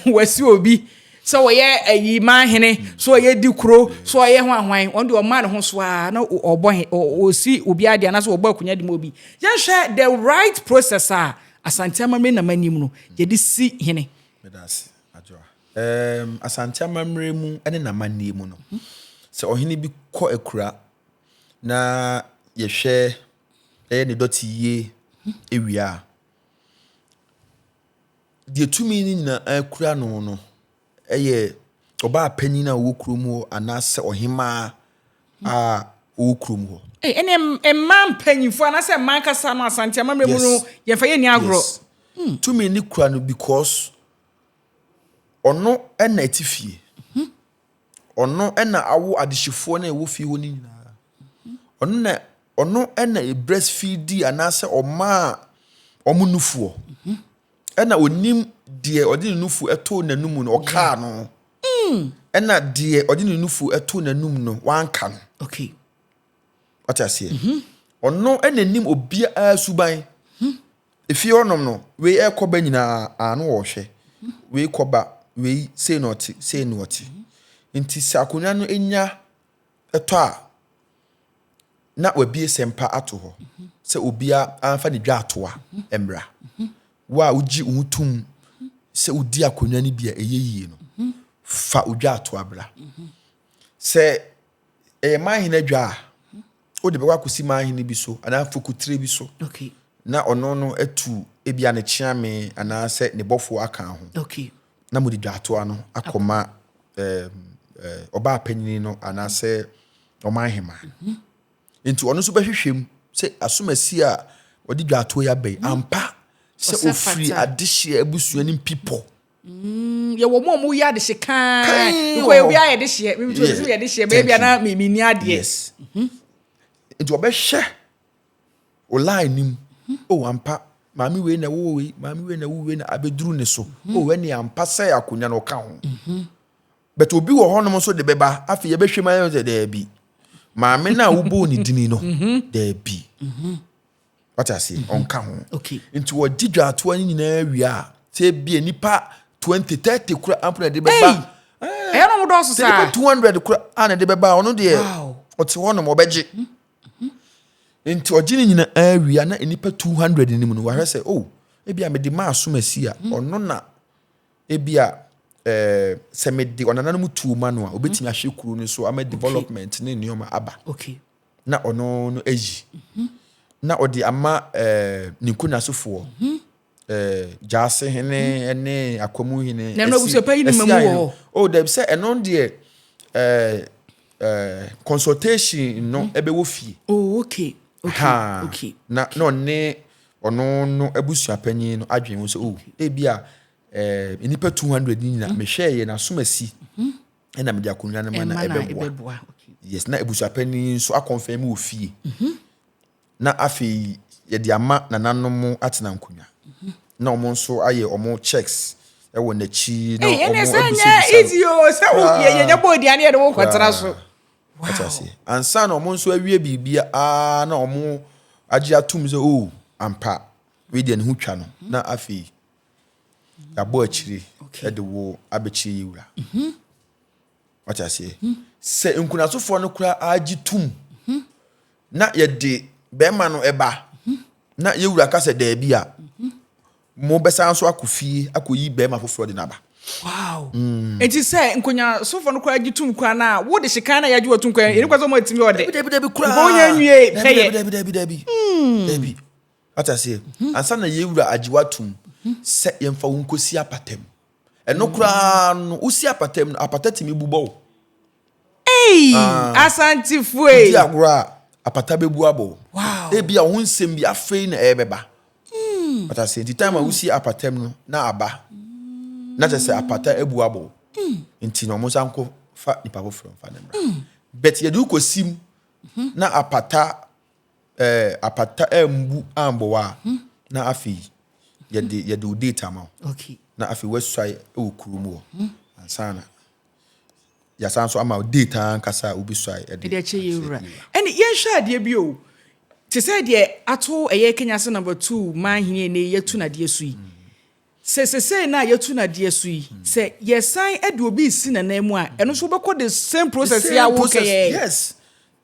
Wɔasi obi sɛ ɔyɛ ayi man hene, sɛ ɔyɛ di kuro, sɛ ɔyɛ ho ahwan, ɔno deɛ ɔma ne ho so ara na ɔbɔ he, ɔsi obi adeɛ anaasɛ ɔbɔ akunya de ma obi. Yɛnhwɛ the right process a Asante amammerɛ nam anim no, yɛde si hene. Medase, Adwoa. Um, Asante amammerɛ mu ne n'amanneɛ mu no, sɛ ɔhene bi kɔ akura na yɛhwɛ ɛyɛ ne dɔte yie awia a, deɛ tumi no nyinaa kura no no yɛ ɔbaa panin a ɔwɔ kurom hɔ anaasɛ ɔhemaa a ɔwɔ kurom hɔ. Hey, ɛne mmaa mpanyinfoɔ anaasɛ mmaa ankasa no asante amammerɛ mu no yɛmfa yɛ nni agorɔ. Yes. Hmm. Tumi ne kura no because ɔno na ɛte fie. Hmm. Ɔno na awo adehyefoɔ no a ɛwɔ fie hɔ no nyinaa. Ɔno na ɔno na ɛbrɛsfidi anaasɛ ɔmaa wɔn nufoɔ. Ɛna ɔnim deɛ ɔde ne nufu ɛtoo n'anum no ɔkaa no. Hmm. Ɛna deɛ ɔde ne nufu ɛtoo n'anum no wanka no. Okay. Wate aseɛ? Mhm. Ɔno na nim obiara suban. Hmm. Efie hɔnom no, wei ɛrekɔ ba nyinaa a na wɔrehwɛ. Wei kɔ ba, wei sei na ɔte, sei na ɔte. Nti sɛ akonnwa no nya tɔ a, na wɔabue sɛmpa ato hɔ sɛ obiara mfa ne dwatoa mmra. Wo a wogye wo ho tom sɛ wodi akonnwa no bi a ɛyɛ yie no, fa wo dwatoa bra. Sɛ ɛyɛ manhene adwa a wode bɛkɔ akɔsi manhene bi so anaa fokutire bi so okay. na ɔno no atu ebi a ne kyeame anaasɛ ne bɔfoɔ aka ho okay. na mode dwaatoa no akɔma ɔbaa eh, panyini no anaasɛ ɔman hema mm -hmm. nti ɔno nso bɛhwehwɛ mu sɛ asomasi a wɔde dwaatoɔ yi aba yi ampa sɛ ɔfiri adehyeɛ abusua no mpipɔ Mm, yɛwɔ mu a wɔyɛ adehye kann. Kann Because wɔ hɔ. obiara yɛ dehyeɛ. Mimi nso Yeah. ɛsɛ yɛ dehyeɛ. Thank Baabi a na mi mi ni adeɛ. yes nti ɔbɛhwɛ o line nim o ampa maame wei na ɛwɔ wei maame wei na ɛwɔ wei na abɛduru ne so o ɛne ampa sɛ akonnwa no ɔka ho but obi wɔ hɔnom nso de bɛba afei yɛbɛhwɛ mu ayɛ sɛ daabi maame no a wobɔɔ ne dini no daabi wate aseɛ mhm. ɔnka ho nti wɔgye dwaatoa no nyinaa wie a sɛ bia nipa 20 30 kora ampo na ɛde bɛba ɛyɛ no dɔɔso saa nipa 200 kora a na ɛde bɛba ɔno deɛ ɔte hɔ nom ɔbɛgye mhm, mhm. nti ɔgye no nyinaa wie a na nipa 200 no mu no wahwɛ sɛ o oh, ebi a mede maa som asi a ɔno na ebi a eh, sɛ mede ɔnananom tuo ma no a obetumi ahwɛ kuro no so ama development ne nneɛma aba na ɔno no ayi na ɔde ama eh, ne nkunasofoɔ mhm. eh, gyaase hene mhm. ne akwamu hene ɛsiaɛ o dɛbi sɛ ɛno deɛ eh, eh, consultation no mhm. ɛbɛwɔ fie oh, okay. Okay. ha okay. na na ɔne ɔno no abusua panyin no adwene ho sɛ o oh, ebi a eh, nnipa 200 ni nyina mehwɛɛ yɛ n'asomasi ɛna mede akonnwa no ma na ɛbɛboa yes na abusuapanyin nso akɔnfɛn mu wɔ fie mhm. na afei yɛde ama nananom atena nkonnwa mhm. na wɔn nso ayɛ wɔn checks ɛwɔ n'akyi na wɔn abisabisa no ɛnyɛ easy o oh, sɛ o yɛ yɛ bɔ odi ani yɛ de wɔn kɔtara so wow ansa na wɔn nso awie biribi aa na wɔn agye atum sɛ o oh, ampa wei deɛ ne ho twa no mhm. na afei. Yɛabɔ akyire de wo abɛkyerɛ yɛn wura. Wate aseɛ? Sɛ nkunasofoɔ no koraa gye tum na yɛde bɛrima no ba na yɛn wura ka sɛ daabi a, mobɛsan so akɔ fie akɔyi bɛrima foforɔ de no aba. Wow. Mm. Enti sɛ nkonyasofoɔ no koraa gye tum koraa no a, wode hyekan no a yɛagye watum koraa, ɛne kwa sɛ ɔma atumi ɔdɛ. Dabi, dabi, dabi, koraa. Nkɔ wonya nwie pɛyɛ. Dabi, dabi, dabi, dabi. Dabi. Wate aseɛ? Ansa na yɛn Wura agye wo atom sɛ yɛmfa wo nkɔsi apata mu. Ɛno koraa no, wosi apata mu no, apata tumi bu bɔ wo. Ei! Ah, Asantefo wodi ei! agorɔ a, apata bɛbu abɔ wo. Wow! Ebia wo ho nsɛm bi afei na ɛrebɛba. Wate aseɛ? Nti time a wosi apata mu no, na aba. Na kyerɛ sɛ apata abu abɔ wo. Nti na wɔsan nkɔfa nipa foforɔ mfa no mmra. But yɛde wo kɔsi mu na apata Ɛɛ apata ammu ammbow a, na afei yɛde yɛde wo date ama wo. Okay. Na afei woasuae wɔ kurom hɔ. Ansa na yɛasan nso ama wo date ankasa a wobɛsuae de. Ɛde akyɛ yɛn wura. Ɛne yɛnhwɛ adeɛ bi o. Te sɛ deɛ ato ɛyɛ Kenya ase number two man hene ɛnɛ yi yɛatu no adeɛ so yi. Sɛ sesei no a yɛatu no adeɛ so yi, sɛ yɛsan de obi resi n'anan mu a, ɛno nso wobɛkɔ the same process yi a wokɛyɛɛ yi. Yes.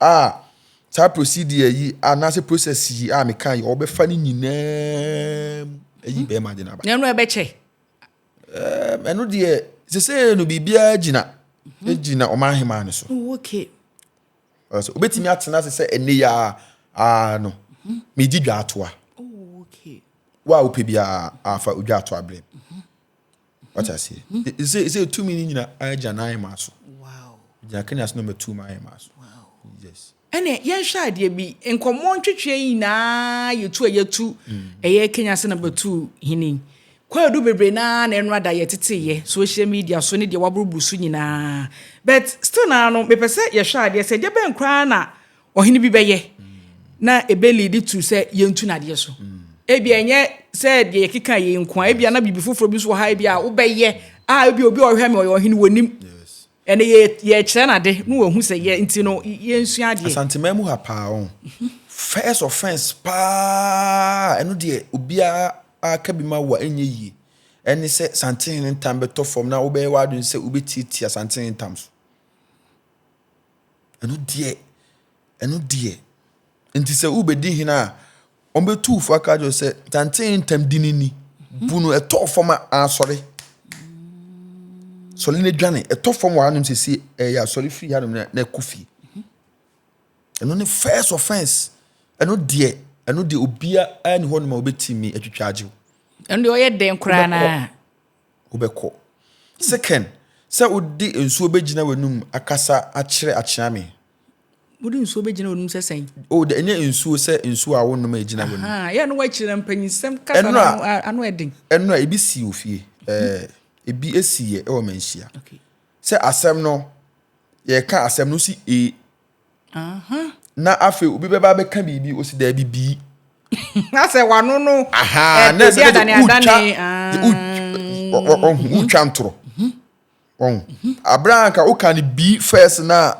a saa procedure yi anaasɛ process yi a meka yi ɔbɛfa ne nyinaa mu ayi hmm. bɛrima de no aba. na ɛno ɛbɛkyɛ. ɛno deɛ sese no biribiara gyina mhm. gyina ɔman ahemaa no so. Oh, okay. ɔsɛ obetumi atena ase sɛ ɛnne yɛ a aa no mhm. medi dwa ato a. Oh, okay. wo a wopɛ biara afa odwa ato abirɛ. Mhm. wata aseɛ ɛsɛ ɛsɛ tumi no nyina agya no ayɛ maa so gyina kenya so na ɔma tumi ayɛ maa so yes ɛnɛ yɛnhwɛ adeɛ bi nkɔmmɔ ntwetweɛ nyinaa yɛtu a yɛtu mm. ɛyɛ kenya sɛ na bɛtu hene kwaadu bebree naa na ɛno ada yɛteteyɛ social media so ne deɛ waboroboro so nyinaa but still naa no mepɛ sɛ yɛhwɛ adeɛ sɛ deɛ bɛn koraa na ɔhene bi bɛyɛ na ɛbɛliidi to sɛ yɛntu nadeɛ so. Ebia ɛnyɛ sɛ deɛ yɛkeka yei nko a, ebia na biribi foforɔ bi nso wɔ ha ebia wobɛyɛ a ebia obi a ɔhwɛ me ɔyɛ ɔhene wɔnim. Ɛnna yɛkyerɛ no ade na wahu sɛ yɛ nti no yɛnsua adeɛ. Asanteman mu ha paa ɔn. First offence paa ɛno deɛ obiara aka bi ma wo a ɛnyɛ yie ɛne sɛ Santehene ntam bɛtɔ fam na wobɛyɛ w'adwene sɛ wobɛtiatia Santehene ntam so. Ɛno deɛ, ɛno deɛ. Enti sɛ wobɛdi hene a, wɔbɛtu wo fo aka kyerɛ sɛ tantee ntam di no ni. Bu no ɛtɔ fam a asɔre. Sɔre no adwane. Ɛtɔ fam wɔ hanom sɛsi ɛyɛ asɔre firi hanom na na ɛkɔ fie. Ɛno ne first offense. Ɛno deɛ, ɛno deɛ obiara ne hɔnom a wɔbɛtumi atwitwa agye wo. ɛno deɛ ɔyɛ dɛn koraa no a wobɛkɔ. Se Ken, sɛ wode nsuo bɛgyina w'anum akasa akyerɛ Akyeame. Wode nsuo bɛgyina w'anum sɛ sɛn? O, dɛ, ɛnyɛ nsuo sɛ nsuo a wonom a ɛgyina w'anum. Ahaa, yɛ a na woakyiri na mpanyinsɛm kasa no ano, ano yɛ den. Ɛno a, ebi sii wɔ fie. Ɛɛ, ebi siiɛ wɔ manhyia. Okay. Sɛ asɛm no, yɛreka asɛm no, wosi ee. na afei obi bɛba abɛka biribi osi daabi bii na sɛ wano no ɛbi adane adane ɔhu wotwa ntorɔ ɔhu abere a nka woka no bii fɛs na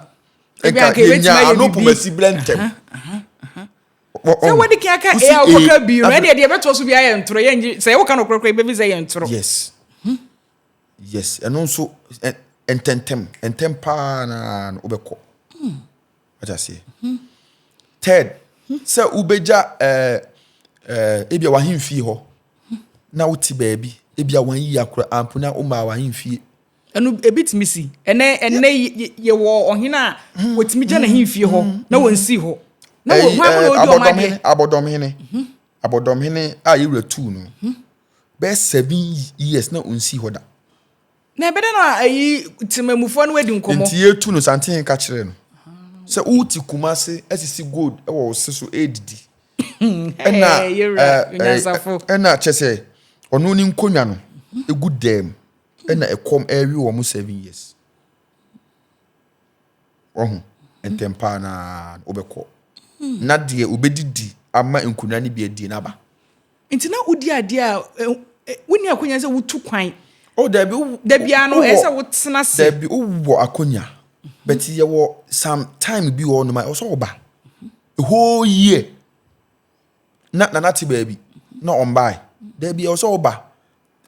nka yɛnya ano pomasi berɛ ntɛm sɛ wode ka ka a wokɔka bii no ɛne ɛdeɛ ɛbɛtoɔ so bi ayɛ ntorɔ yɛnye sɛ woka no korɔkorɔ yɛbɛbi sɛ yɛ ntorɔ yes Yes, ɛno nso ntɛntɛm ntɛm paa na wobɛkɔ. Hmm. Wata aseɛ. Hmm. Third, hmm. sɛ wobɛgya eh, eh, ebia wahemfie hɔ na wote baabi ebia wayiyi akora ampo na womaa wahemfie ɛno ebi tumi si ɛnɛ ɛnɛ yɛwɔ ɔhene a hmm. wɔtumi gya ne hemfie hɔ hmm. na wɔnsi hɔ na wɔn hwan mu na ɔdi ɔmo adeɛ abɔdɔmhene mhm. abɔdɔmhene a yɛwura tuu no mhm. bɛyɛ seven years na ɔnsii hɔ da. na ɛbɛdɛ no a ayi temamufoɔ no adi nkɔmmɔ. Nti yɛtu no santen ka kyerɛ no sɛ wote Kumase asisi gold wɔ wo se so ɛredidi. Ɛna ɛna kyɛ sɛ ɔno ne nkonnwa no ɛgu dɛm ɛna ɛkɔm ɛrewe wɔn seven years. Wɔho ntɛm paa na wobɛkɔ na deɛ wobɛdidi ama nkonnwa no bi adie no aba. Nti na wodi adeɛ a wonni akonya sɛ wotu kwan. Oh dabi wo da biara no ɛyɛ sɛ wotena se. Dabi wowɔ akonya but yɛwɔ some time bi wɔ noma ɔsɔ ɔba a whole year na nana te baabi na ɔmbae dabi ɔsɔ ɔba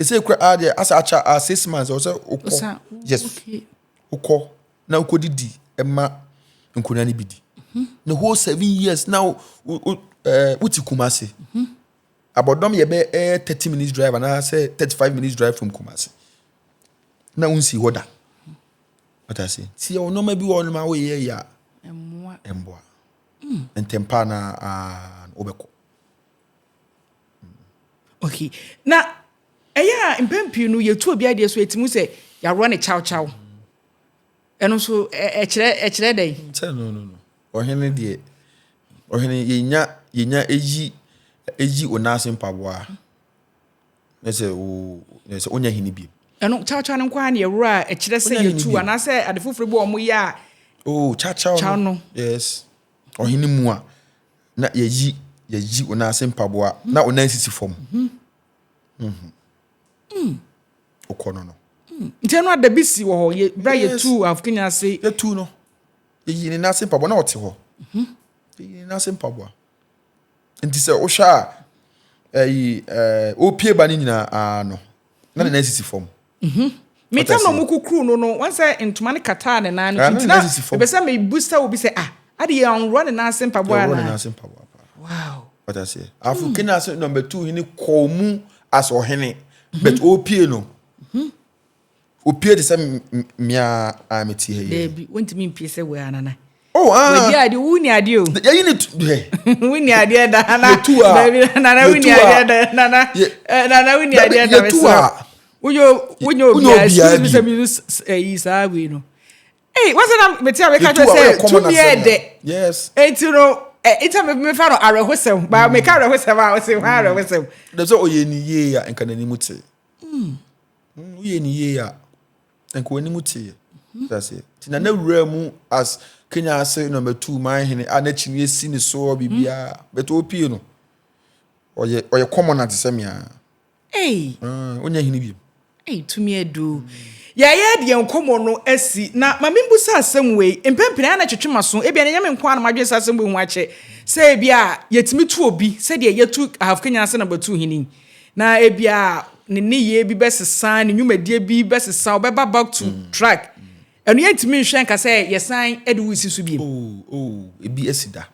ɛsɛ kura a deɛ asa akyɛ a six months ɔsɛ okɔ Osa, wo- yes okay. okɔ na okɔ didi ɛma nkonnwa no bi di the whole seven years na wo wo wo ɛɛ wote kumase abɔdɔm yɛ bɛ ɛyɛ thirty minutes drive anaasɛ thirty five minutes drive from kumase na wonsi hɔ da ɔta se tiɛ wɔn nneɛma bi wɔ hɔ nom a woyɛ yɛ a Mmoa. ɛmboa ntɛmpa na aa wobɛkɔ Okay. Na ɛyɛ a mpɛn pii no yɛtu obi adeɛ so ɛtumi sɛ yɛaworɔ ne kyawkyaw. Ɛno nso ɛkyerɛ ɛkyerɛ dɛn? Sɛ no no no. Ɔhene deɛ ɔhene yɛnya yɛnya ɛyi ɛyi onaase mpaboa na sɛ o na sɛ ɔnya hene bi. Ɛno kyawkyaw no nko ara na yɛworɔ a ɛkyerɛ sɛ yɛtu anaasɛ ade foforɔ bi wɔn yɛ a. Oh kyawkyaw no. Yes. Ɔhene mu a. na yɛyi yɛyi wo nan ase mpaboa mm. na wo nan sisi fam mm-hmm. mm-hmm. mm. wokɔ no no mm. nkyɛn no adabi si wɔ hɔ yɛ bra yɛtu afokini ase yɛtu no yɛyi ne nan ase mpaboa na ɔte hɔ mm-hmm. yɛyi ne nan ase mpaboa nti sɛ wohwɛ a ɛyi ɛɛ opie ba ne nyinaa aa no na ne nan sisi fam. Mhm. Me tam na ɔmo kukuruu no no, wɔn sɛ ntoma no kataa ne nan no so, nti na mepɛ sɛ me busa obi sɛ ah, ade yɛ ɔnworɔ ne nan ase mpaboa anaa? Yɛworɔ ne nan ase mpaboa paa. Wow. Wate aseɛ? Afro hmm. kene ase number two hene kɔɔ mu as ɔhene, mhm. but ɔpie no. Mhm. Ɔpie te sɛ mmea a mete ha yi. Daabi, wɔntumi mpie sɛ wɔ anana. Oh, ah. Wadi ade, wo ni ade o. Yɛyi ne tu hɛ. Wo ni adeɛ da na. Yɛtu a. Baabi nana wo ni adeɛ da nana. Eh, nana wo ni adeɛ da. Yɛtu a. Wonyɛ wonyɛ obiara. Excuse me sɛ mi use ɛyi saa wei no. Ee wɔsɛ na mete a meka kyerɛ sɛ tumi yɛ dɛ. Yes. Eti no ɛ eti mi mi fa no awerɛhosɛm baa mi ka awerɛhosɛm a ɔsi hɔn awerɛhosɛm. Dɛm sɛ ɔyɛ ni yie a nka n'anim te. Woyɛ ni yie a. nka wɔn anim teeɛ mhm. so aseɛ nti na n'awura mu as kenya ase nɔmba two man hene a n'akyi no esi ne soɔ biribiara mhm. bɛtɛ opie no ɔyɛ ɔyɛ kɔmɔ na te sɛ mia ɔnyɛ hene bi. tumi adu yɛyɛ deɛ nkɔmɔ no asi na maame mbusa asɛm wei mpɛmpɛn a na twetwe ma so ebi ɛnyɛ me nko ara na madwene sɛ asɛm wei ho akyɛ sɛ ebi a yɛtumi tu obi sɛdeɛ yɛtu ahaf kenya ase nɔmba two hene Na ebia ne nneyɛɛ bi bɛsesa, ne nnwumadie bi bɛsesa, ɔbɛba back to mm. track. Mm. Ɛno yɛntumi nhwɛ nka sɛ yɛsan de wo si so biem. Oh, oh, ebi asi da.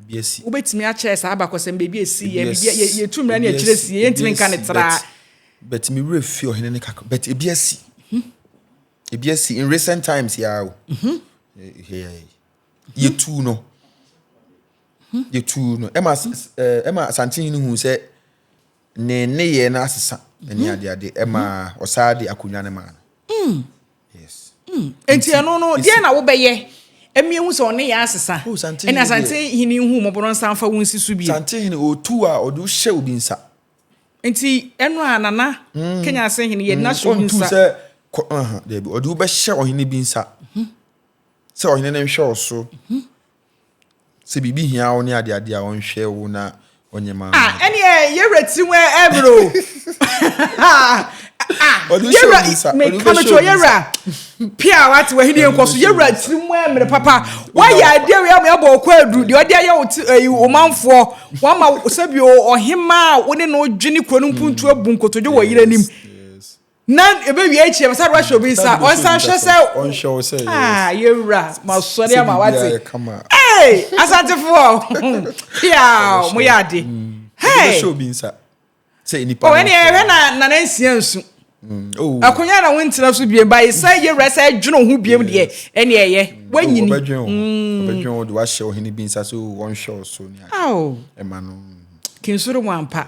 Ebi asi. Wobɛtumi akyerɛ saa abakɔsɛm baabi esi yɛ, biribi yɛtu mmira ne akyire si yɛ, yɛntumi nka ne traa. But me werɛ fi ɔhene ne kakra, but ebi asi. Mhm. Ebi asi in recent times yɛ o. Mhm. Eh, eh, eh. yɛtuu no yɛtuu no ɛma ɛma asantehene hu sɛ ne nneyɛɛ no asesa ne mhm. adeade ɛma mhm. ɔsaa de akonnwa no maa no mm. yes mm. nti ɛno no deɛ na wobɛyɛ ɛmi ehu sɛ ɔne yɛ asesa oh, ɛna asantehene hu mɔbɔrɔ nsa nfa wo nsi so bi asantehene otu a ɔde hyɛ obi nsa nti ɛno a nana mm. kenya ase hene yɛ nasa obi nsa ɔntu sɛ kɔ ɔnha dɛbi ɔde wobɛhyɛ ɔhene bi nsa. Mhm. Sɛ ɔhene no nhwɛ wo so. Sɛ biribi hia wo ne adeade a, ɔnhwɛ wo na ɔnyɛ ma wo. Ah, ɛneɛ yɛwura tirim ɛmmerɛ o. Yɛwura, meka no kyerɛ yɛwura pia a wate wahene yɛnkɔ so yɛwura tirim ɛmmerɛ papa. Wayɛ adeɛ wei ama yɛabɔ ɔkɔ aduru deɛ ɔde ayɛ wo ti ɛyi eh, ɔmanfoɔ wama sɛbi ɔhemaa wo ne no dwene kuro no mpuntu abu nkotodwe wɔ yere anim. Na ebewie akyiri a, wɔsan de wahyɛ obi nsa, ɔnsan nhwɛ sɛ ɔnhwɛ wo sɛ ah yɛwura ma sɔre ama wate ee asantefoɔ piaw mo yɛ ade hɛɛ obi nsa sɛ nipa ɔwɛ ne ɛhwɛ na nana nsia nsu akonya na wontena so biem ba sɛ yɛwura sɛ ɛdwene ho biem deɛ ɛne ɛyɛ wanyini ɔbɛdwen ho ɔbɛdwen ho de wahyɛ ɔhene bi nsa sɛ ɔnhwɛ wo so ne ɛma no kinsoro mu ampa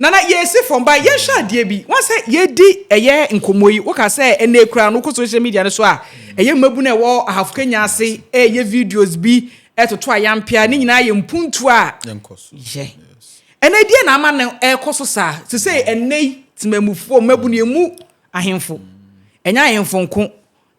Nana yɛsi fam ba yɛnhwɛ adeɛ bi woa sɛ yɛdi ɛyɛ nkɔmmɔ yi woka sɛ ɛnɛ kura no wokɔ social media no so a ɛyɛ mmabunu a ɛwɔ ahafo kenya ase ɛyɛ videos bi ɛtoto ayampea ne nyinaa yɛ mpuntuo a yɛ ɛnɛ deɛ na ama no ɛkɔ so saa te sɛ ɛnɛ yi temamufoɔ mmabunu ɛmu ahemfo ɛnyɛ ahemfo nko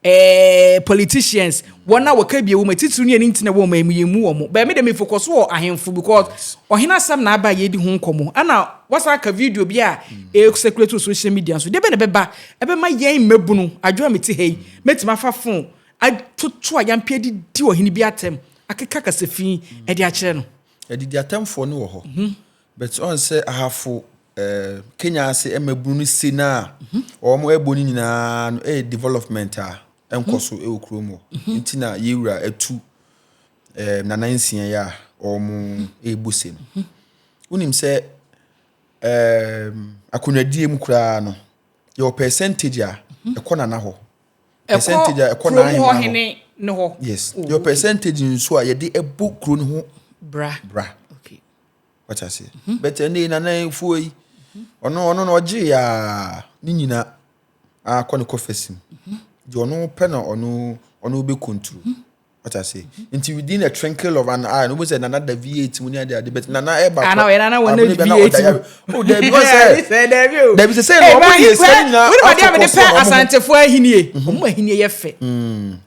Eeii politicians wɔn a wɔka bi wɔ mu atitiriw ne ani nti na wɔma yɛn mu wɔn. But me de me focus wɔ ahemfo because ɔhene asɛm na aba a yɛredi ho nkɔmmɔ. Ɛna wɔasan aka video bi a ɛrɛ circulate wɔ social media nso. Deɛ bɛn na ɛbɛba? Ɛbɛma yɛn mmabunu, adwo a mete ha yi, mɛtumi afa phone atoto ayampe adidi ɔhene bi atɛm, akeka kasafi de akyerɛ no. Adidi atɛmfoɔ no wɔ hɔ. But ɔn sɛ ahafo eh, Kenya ase mmabunu no se no a wɔn ɛbɔ no nyinaa no ɛyɛ development a ɛnkɔ so ɛwɔ kurom hɔ. Nti na yɛwura atu eh, nana nsia yi a wɔn ɛbu se no. Wonim sɛ eh, akonnwadie mu koraa no yɛwɔ percentage a ɛkɔ nana hɔ. Percentage a ɛkɔ kurom hɔ n'ahemman hɔ. hene no hɔ Yes. Oh, Yɛwɔ okay. percentage nso a yɛde ɛbɔ kuro no ho Bra bra. Okay. wate aseɛ mhm. but ɛnɛ yi nana fuo yi ɔno ɔno na ɔgye yɛ a ne nyina akɔ ne kɔfɛsi mu mhm. deɛ ɔno pɛ na ɔno ɔno bɛ konturu mhm. wate aseɛ nti within a twinkle of an eye no wobɛ sɛ nana da v8 mu ne ade ade but nana ɛba kɔ abone bɛ na ɔda yare o dabi wɔ sɛ dabi sɛ sɛ na ɔmo yɛ sɛ ne nyina afɔ kɔ so ɔmo ho asantefo ahinie ɔmo ahinie yɛ fɛ mm.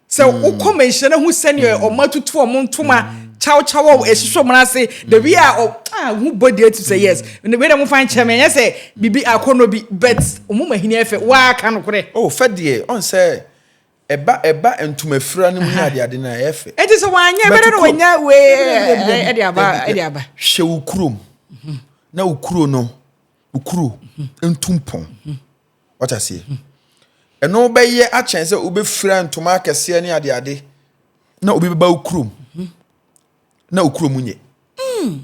Sɛ mm. wokɔ mɛnhyɛ no ho sɛdeɛ mm. ɔma tutu ɔmo ntoma mm. kyawkyaw a ɛhyehyɛ ɔmo ase the way a ɔ ah ho bɔ deɛ tu sɛ yes ne wei na mo fa nkyɛn mɛ ɛnyɛ sɛ bibi akɔnɔ bi but ɔmo ma hini ɛfɛ waa ka no korɛ. o oh, fɛ deɛ ɔn sɛ ɛba ɛba ntoma fira no mu ne ade ade na ɛyɛ fɛ. ɛti sɛ wanyɛ ɛbɛrɛ na wanya wee ɛde aba ɛde aba. hyɛ wo kurom na wo kuro no wo kuro ntumpɔn. Wate aseɛ? Ɛno wobɛyɛ akyɛn sɛ wobɛfira ntoma akɛseɛ ne adeade na obi bɛba wo kurom na wo kurom nyɛ. Hmm.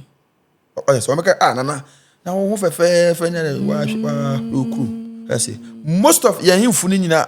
Ɔyɛ sɛ wɔbɛka, ah, nana, na wo ho fɛfɛɛfɛ ne wahwɛ wɔ kurom. Ɛsɛ, most of yɛn hemfo no nyinaa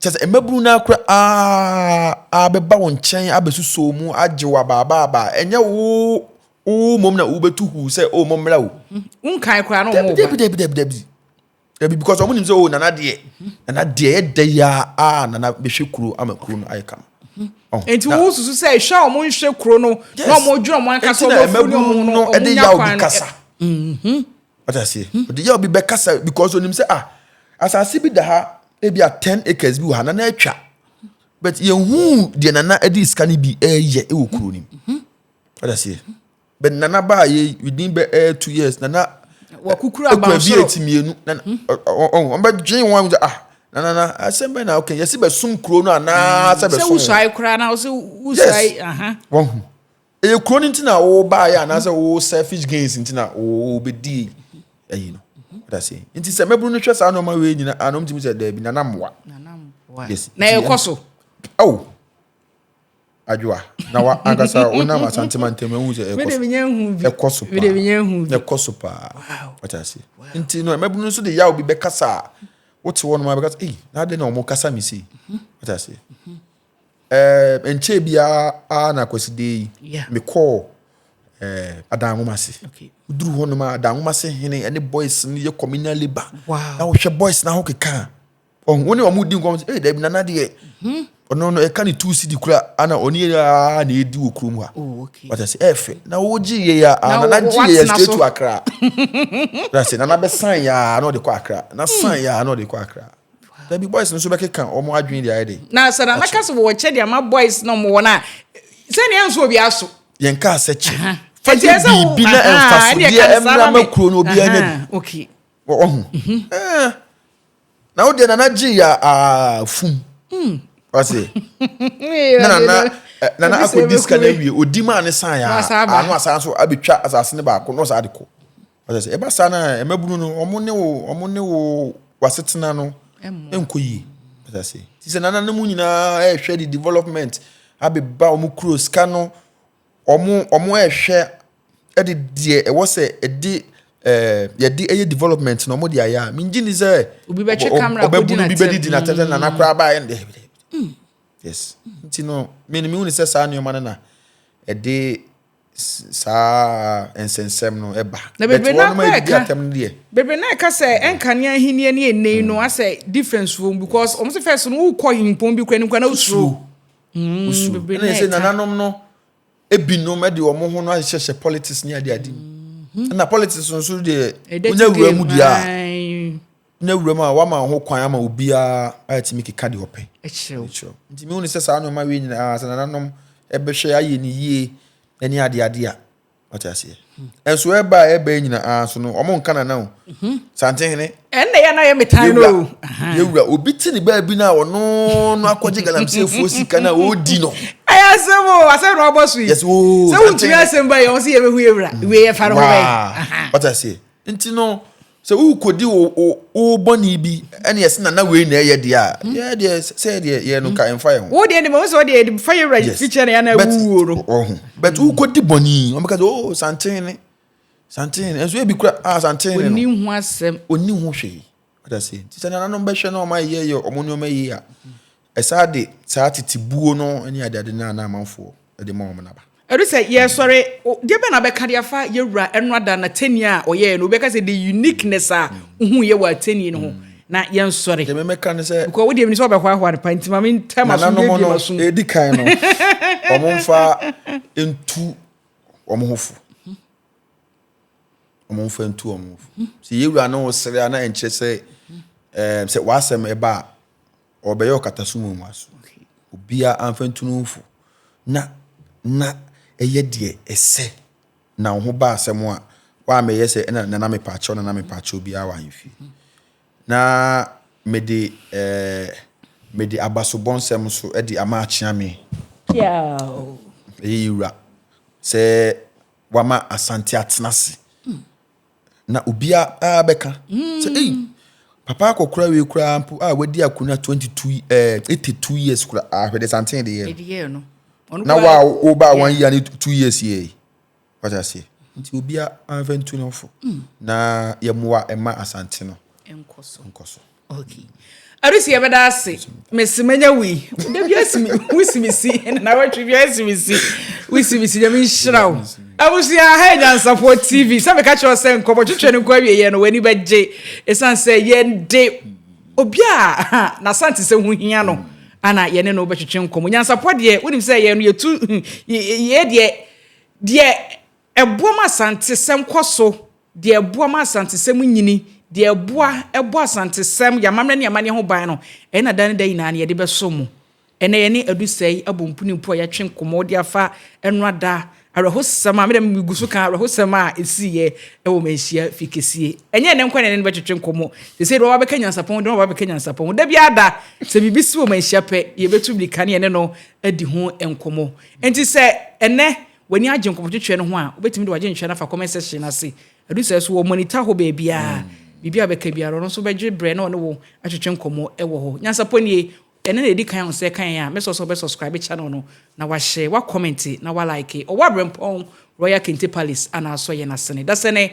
Kyerɛ sɛ, mmabunu no ara koraa bɛba wo nkyɛn abɛsosɔ mu agye wo abaabaabaa. Ɛnyɛ wo wo mmom na wobɛtu huu sɛ, o mommra o. Wonkae koraa na wɔn ba. Dabi, dabi, dabi, dabi. Dabi, because wɔn nim sɛ, o nana deɛ, nana deɛ yɛ dɛ yi a nana bɛhwɛ kuro ama kuro no ayɛ kama. Nti wo susu sɛ ehwɛ a wɔn nhwɛ kuro no na wɔn dwere wɔn ankasa wɔn afuru ne wɔn no wɔn nya kwan no. Ɛde yaw bi kasa. Wate aseɛ? Hmm. Ɔde yɛ obi bɛkasa because onim sɛ ah asase bi da ha ebi a ten acres bi wɔ ha na na atwa but yɛhu deɛ nana ɛde sika no bi ɛyɛ ɛwɔ hmm. kuro nim. Hmm. Wate aseɛ? But nana baa yɛ within bɛ ɛyɛ two years nana wakukuru abansoro ekura bi eti mienu nana ɔn bɛ dwen wɔn sɛ ah na na na asɛm bɛ na ɔkɛ yɛsi bɛ sum kuro no anaa sɛ bɛ sum wɔn. Sɛ wusuae koraa na ɔsɛ wusuae. Yes wɔn ho. Ɛyɛ kuro no nti na wobaeɛ anaasɛ wo selfish gains nti na wobɛdi ayi no dase nti sɛ mɛburu no hwɛ saa nneɛma wei nyina ana ɔmtumi sɛ daabi nana mmoa na ɛkɔ so ao adwoa na wa ankasa wonam asantema ntam ahu sɛ ɛkɔ so paa ɛkɔ so paa ɔte ase nti no mɛburu no nso de yaw bi bɛkasa a wote hɔ nom a bɛkasa ei na adɛn na ɔmo kasa me sei ɔte ase Ɛɛ, nkyɛɛ biara ara na Kwasida yi, mekɔɔ ɛɛ adan nwoma ase. Duru hɔ nom a adan nwoma ase hene ɛne boys no yɛ communal labour. Na wohwɛ boys na ho keka a. Ɔho wo ne wɔn di nkɔm sɛ, ee dabi nana deɛ. Mhm. Ɔno no ɛka ne two cedi kura ana ɔne yɛ aa na edi wɔ kurom ha. Oh, okay. Wata sɛ ɛɛfɛ. Na wogye yɛ ya a nana gye yɛ ya straight to Accra. Na sɛ nana bɛ san ya na ɔde kɔ Accra. Na san ya na ɔde kɔ Accra. Da bi boys no nso bɛkeka wɔn adwene de ayɛ de. Na sɛ na mɛka sɛ wɔwɔ kyɛ de ama boys na wɔn wɔ no a, sɛnea ɛnso obi aso. Yɛn kaa sɛ kyɛ. Fa yɛ biribi na mfasodeɛ mmra ma kuro no obi anya bi. Okay. Wɔwɔ ho. Mhm. Eh. Na wo deɛ nana gye yɛ afum. Hmm. Ɔse. Na nana eh, nana akɔdi sika no awie ɔdi maa ne san yɛ ano asan so abɛtwa asase no baako na ɔsan de kɔ. Ɔsɛ sɛ ɛba saa na mmabunu no wɔn ne wo wɔn ne wo wasetena no nkɔ yie. Ɔsɛ sɛ ti sɛ nana no mu nyinaa ɛrehwɛ de development abeba wɔn kuro sika no wɔn wɔn ɛrehwɛ ɛde deɛ ɛwɔ sɛ ɛde ɛɛ yɛde ɛyɛ development na wɔn de ayɛ a mingye ni sɛ obi bɛtwe kamara ɔbɛbu no bi bɛdi di na tɛm sɛ nana koraa baa yɛn dɛ yes nti no mi ni mi hu ni sɛ saa nneɛma no na ɛde. saa nsɛnsɛm no ba. Na bebree no akora ɛka bebree no ɛka sɛ ɛnkanea ahenni ne ɛnɛ yi no asɛ difference wɔm because wɔn sɛ fɛs no wokɔ himpɔn bi kura ne nkura na wosuro. wosuro ɛna ɛsɛ nananom no ebinom ɛde wɔn ho no ahyehyɛ politics ne ade ade mu ɛna politics nso deɛ wonya wura mu deɛ a. na wuram a wama ho kwan ama obiara atumi keka deɛ ɔpɛ kyerɛw nti mehu ne sɛ saa nneɛma wei nyinaa sɛ nananom ɛbɛhwɛ ayɛ ne yie ɛne adeɛ adeɛ a ɔte aseɛ ɛnso hmm. ɛba a ɛba nyinaa so no ɔmo nka nana o hmm. santehene ɛnna yɛ na yɛ metan no o yɛwura obi te ne baabi no a ɔno no akɔgye galamseyɛfoɔ sika no a ɔredi no ɛyɛ asɛm o asɛm na ɔbɔ so yi sɛ wontumi asɛm ba yɛ ɔmo sɛ yɛbɛhu yɛwura wei yɛfa no ho bɛyɛ ɔte aseɛ Nti no, sɛ worekɔdi wo wo wo bɔne bi ne ɛse na na wei na ɛyɛ deɛ a, hmm. yɛ deɛ sɛ deɛ yɛ no ka ɛmfa yɛ ho. Wo deɛ deɛ sɛ ɔdeɛ de fa yɛ wura fi kyɛ na yɛ na wuo no. Ɔho but hmm. wokɔdi bɔne yi wɔn bɛka sɛ oh santen ne santen ne nso ebi kura ah santen ne no. Oni ho asɛm. Oni ho hwee. Ɔda se nti sɛ nananom bɛhwɛ na wɔn ayɛ yɛ wɔn nneɛma yie a. Ɛsaa de saa tete buo no ne adeade no a na amanfoɔ de ma wɔn no aba. Ɛdu sɛ yɛresɔre, deɛ bɛn na wobɛka de afa yɛn Wura ɛno ada n'atɛnnie a ɔyɛɛ no? Wobɛka sɛ the uniqueness a wohuiɛ wɔ atɛnnie no ho na yɛnsɔre? Deɛ memɛka ne sɛ. Because wodeɛ menim sɛ wobɛhoahoa no paa nti ma mentwa m'aso mmiebie m'aso. Nananom no, deɛ ɛdi kan no, wɔmfa ntu wɔn ho fo. Wɔmfa ntu wɔn ho fo. Sɛ yɛn Wura ne wo sere a na ɛnkyerɛ sɛ, ɛɛ, sɛ w'asɛm ɛba a. ɔrebɛyɛ ɔkatasom wɔ mua so. Obiara amfa ntunu mfo. Na na ɛyɛ deɛ ɛsɛ. Na wo ho ba asɛm a, woammɛyɛ sɛ ɛna nana mepaakyɛw nana mepaakyɛw biara wɔ ahemfie. Na mede eh, mede abasobɔnsɛm nso de ama akyea me. Piaaww. Ɛyɛ yɛ wura sɛ wama Asante atena ase na obiara bɛka sɛ ei mm. papa akɔkora wei koraa mpo a wadi akonnwa 22 eh, 82 years koraa ahwɛ de santen de yɛ no na wa wo ba wɔn yia ne 2 years yɛ wata aseɛ nti obiara anfa ntu no fo mm. na yɛmmoa ɛma asante no nkɔ so Okay. Arisi yɛbɛda ase. Mesi manya wo yi. Da bi asi me wosi me si na na watwe bi asi me si. Wosi me si nyame nhyira wo. Abusua ha nyansafo TV. Sɛ meka kyerɛ sɛ nkɔmɔ twetwe no nkɔ awie yɛ no wani bɛgye. Esan sɛ yɛn de obi a na sante sɛ ho hia no ana yɛne no bɛtwetwe nkɔmɔ. Nyansafo deɛ wonim sɛ yɛn no yɛtu yɛ deɛ deɛ Ɛboa ma Asantesɛm kɔ so, deɛ ɛboa ma Asantesɛm nyini, deɛ ɛboa bɔ Asantesɛm, yɛn amammerɛ ne amanneɛ ho ban no, ɛyɛ na da ne da nyinaa no yɛde bɛsom mo. Ɛnnɛ yɛne adu sɛɛ yi abɔ mpuni mpo a yɛatwe nkɔmmɔ de afa ɛnora da awerɛhosɛm a, me deɛ megu so ka awerɛhosɛm a ɛsiiɛ wɔ Manhyia fie kɛsie. Ɛnyɛ ɛnnɛ nko ara na yɛne no bɛtwetwe nkɔmmɔ, seesei deɛ wabɛka nyansapɔn ho deɛ wabɛka nyansapɔn ho, da biara da sɛ biribi si wɔ Manhyia pɛ, yɛbɛtu mmirika ne yɛne no adi ho nkɔmmɔ. Enti sɛ ɛnnɛ W'ani agye nkɔmɔtwetweɛ no ho a, wobɛtumi de w'adwenkyerɛ no afa comment section no ase. Ɛdu saa so wɔ monitor hɔ baabiara. Biribiara a wobɛka biara, ɔno nso bɛgye berɛ na ɔne wo atwetwe nkɔmmɔ wɔ hɔ. Nyansapɔ nie, ɛnnɛ na ɛdi kan a wo nsa ɛka yɛn a, mɛsrɛ wo sɛ wobɛ subscribe channel no, na wahyɛ, wa comment, na wa like. Ɔwɔ Aberempɔn, Royal Kente Palace, anaa Asɔyɛ no asene. Dasani,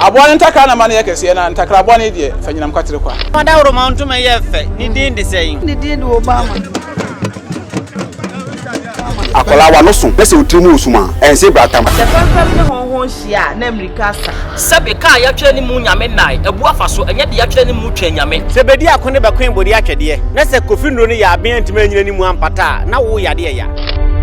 Aboa no ntakra na ma no yɛ kɛseɛ, na ntakra bɔne deɛ, fa nyinam kwatere kwa. Fa dawuroma ntoma yɛ fɛ, ne din de sɛn? Ne din de Obama. Akwadaa wa no so na sɛ otiri mu wɔ sum a, ɛnse bra tam. Sɛ fɛmfɛm ne hɔnho nhyia a, na mmirika asa. Sɛbe kaa yɛatwerɛ ne mu Nyame nnae, abu afa so, ɛnyɛ deɛ yɛatwerɛ ne mu Twɛn Nyame. Sɛ bɛdi ako ne bɛkoe bɔdeɛ atwɛdeɛ, na sɛ kofi nnuro no yɛ aben antumi annyina ne mu ampata a, na wo yadeɛ ya.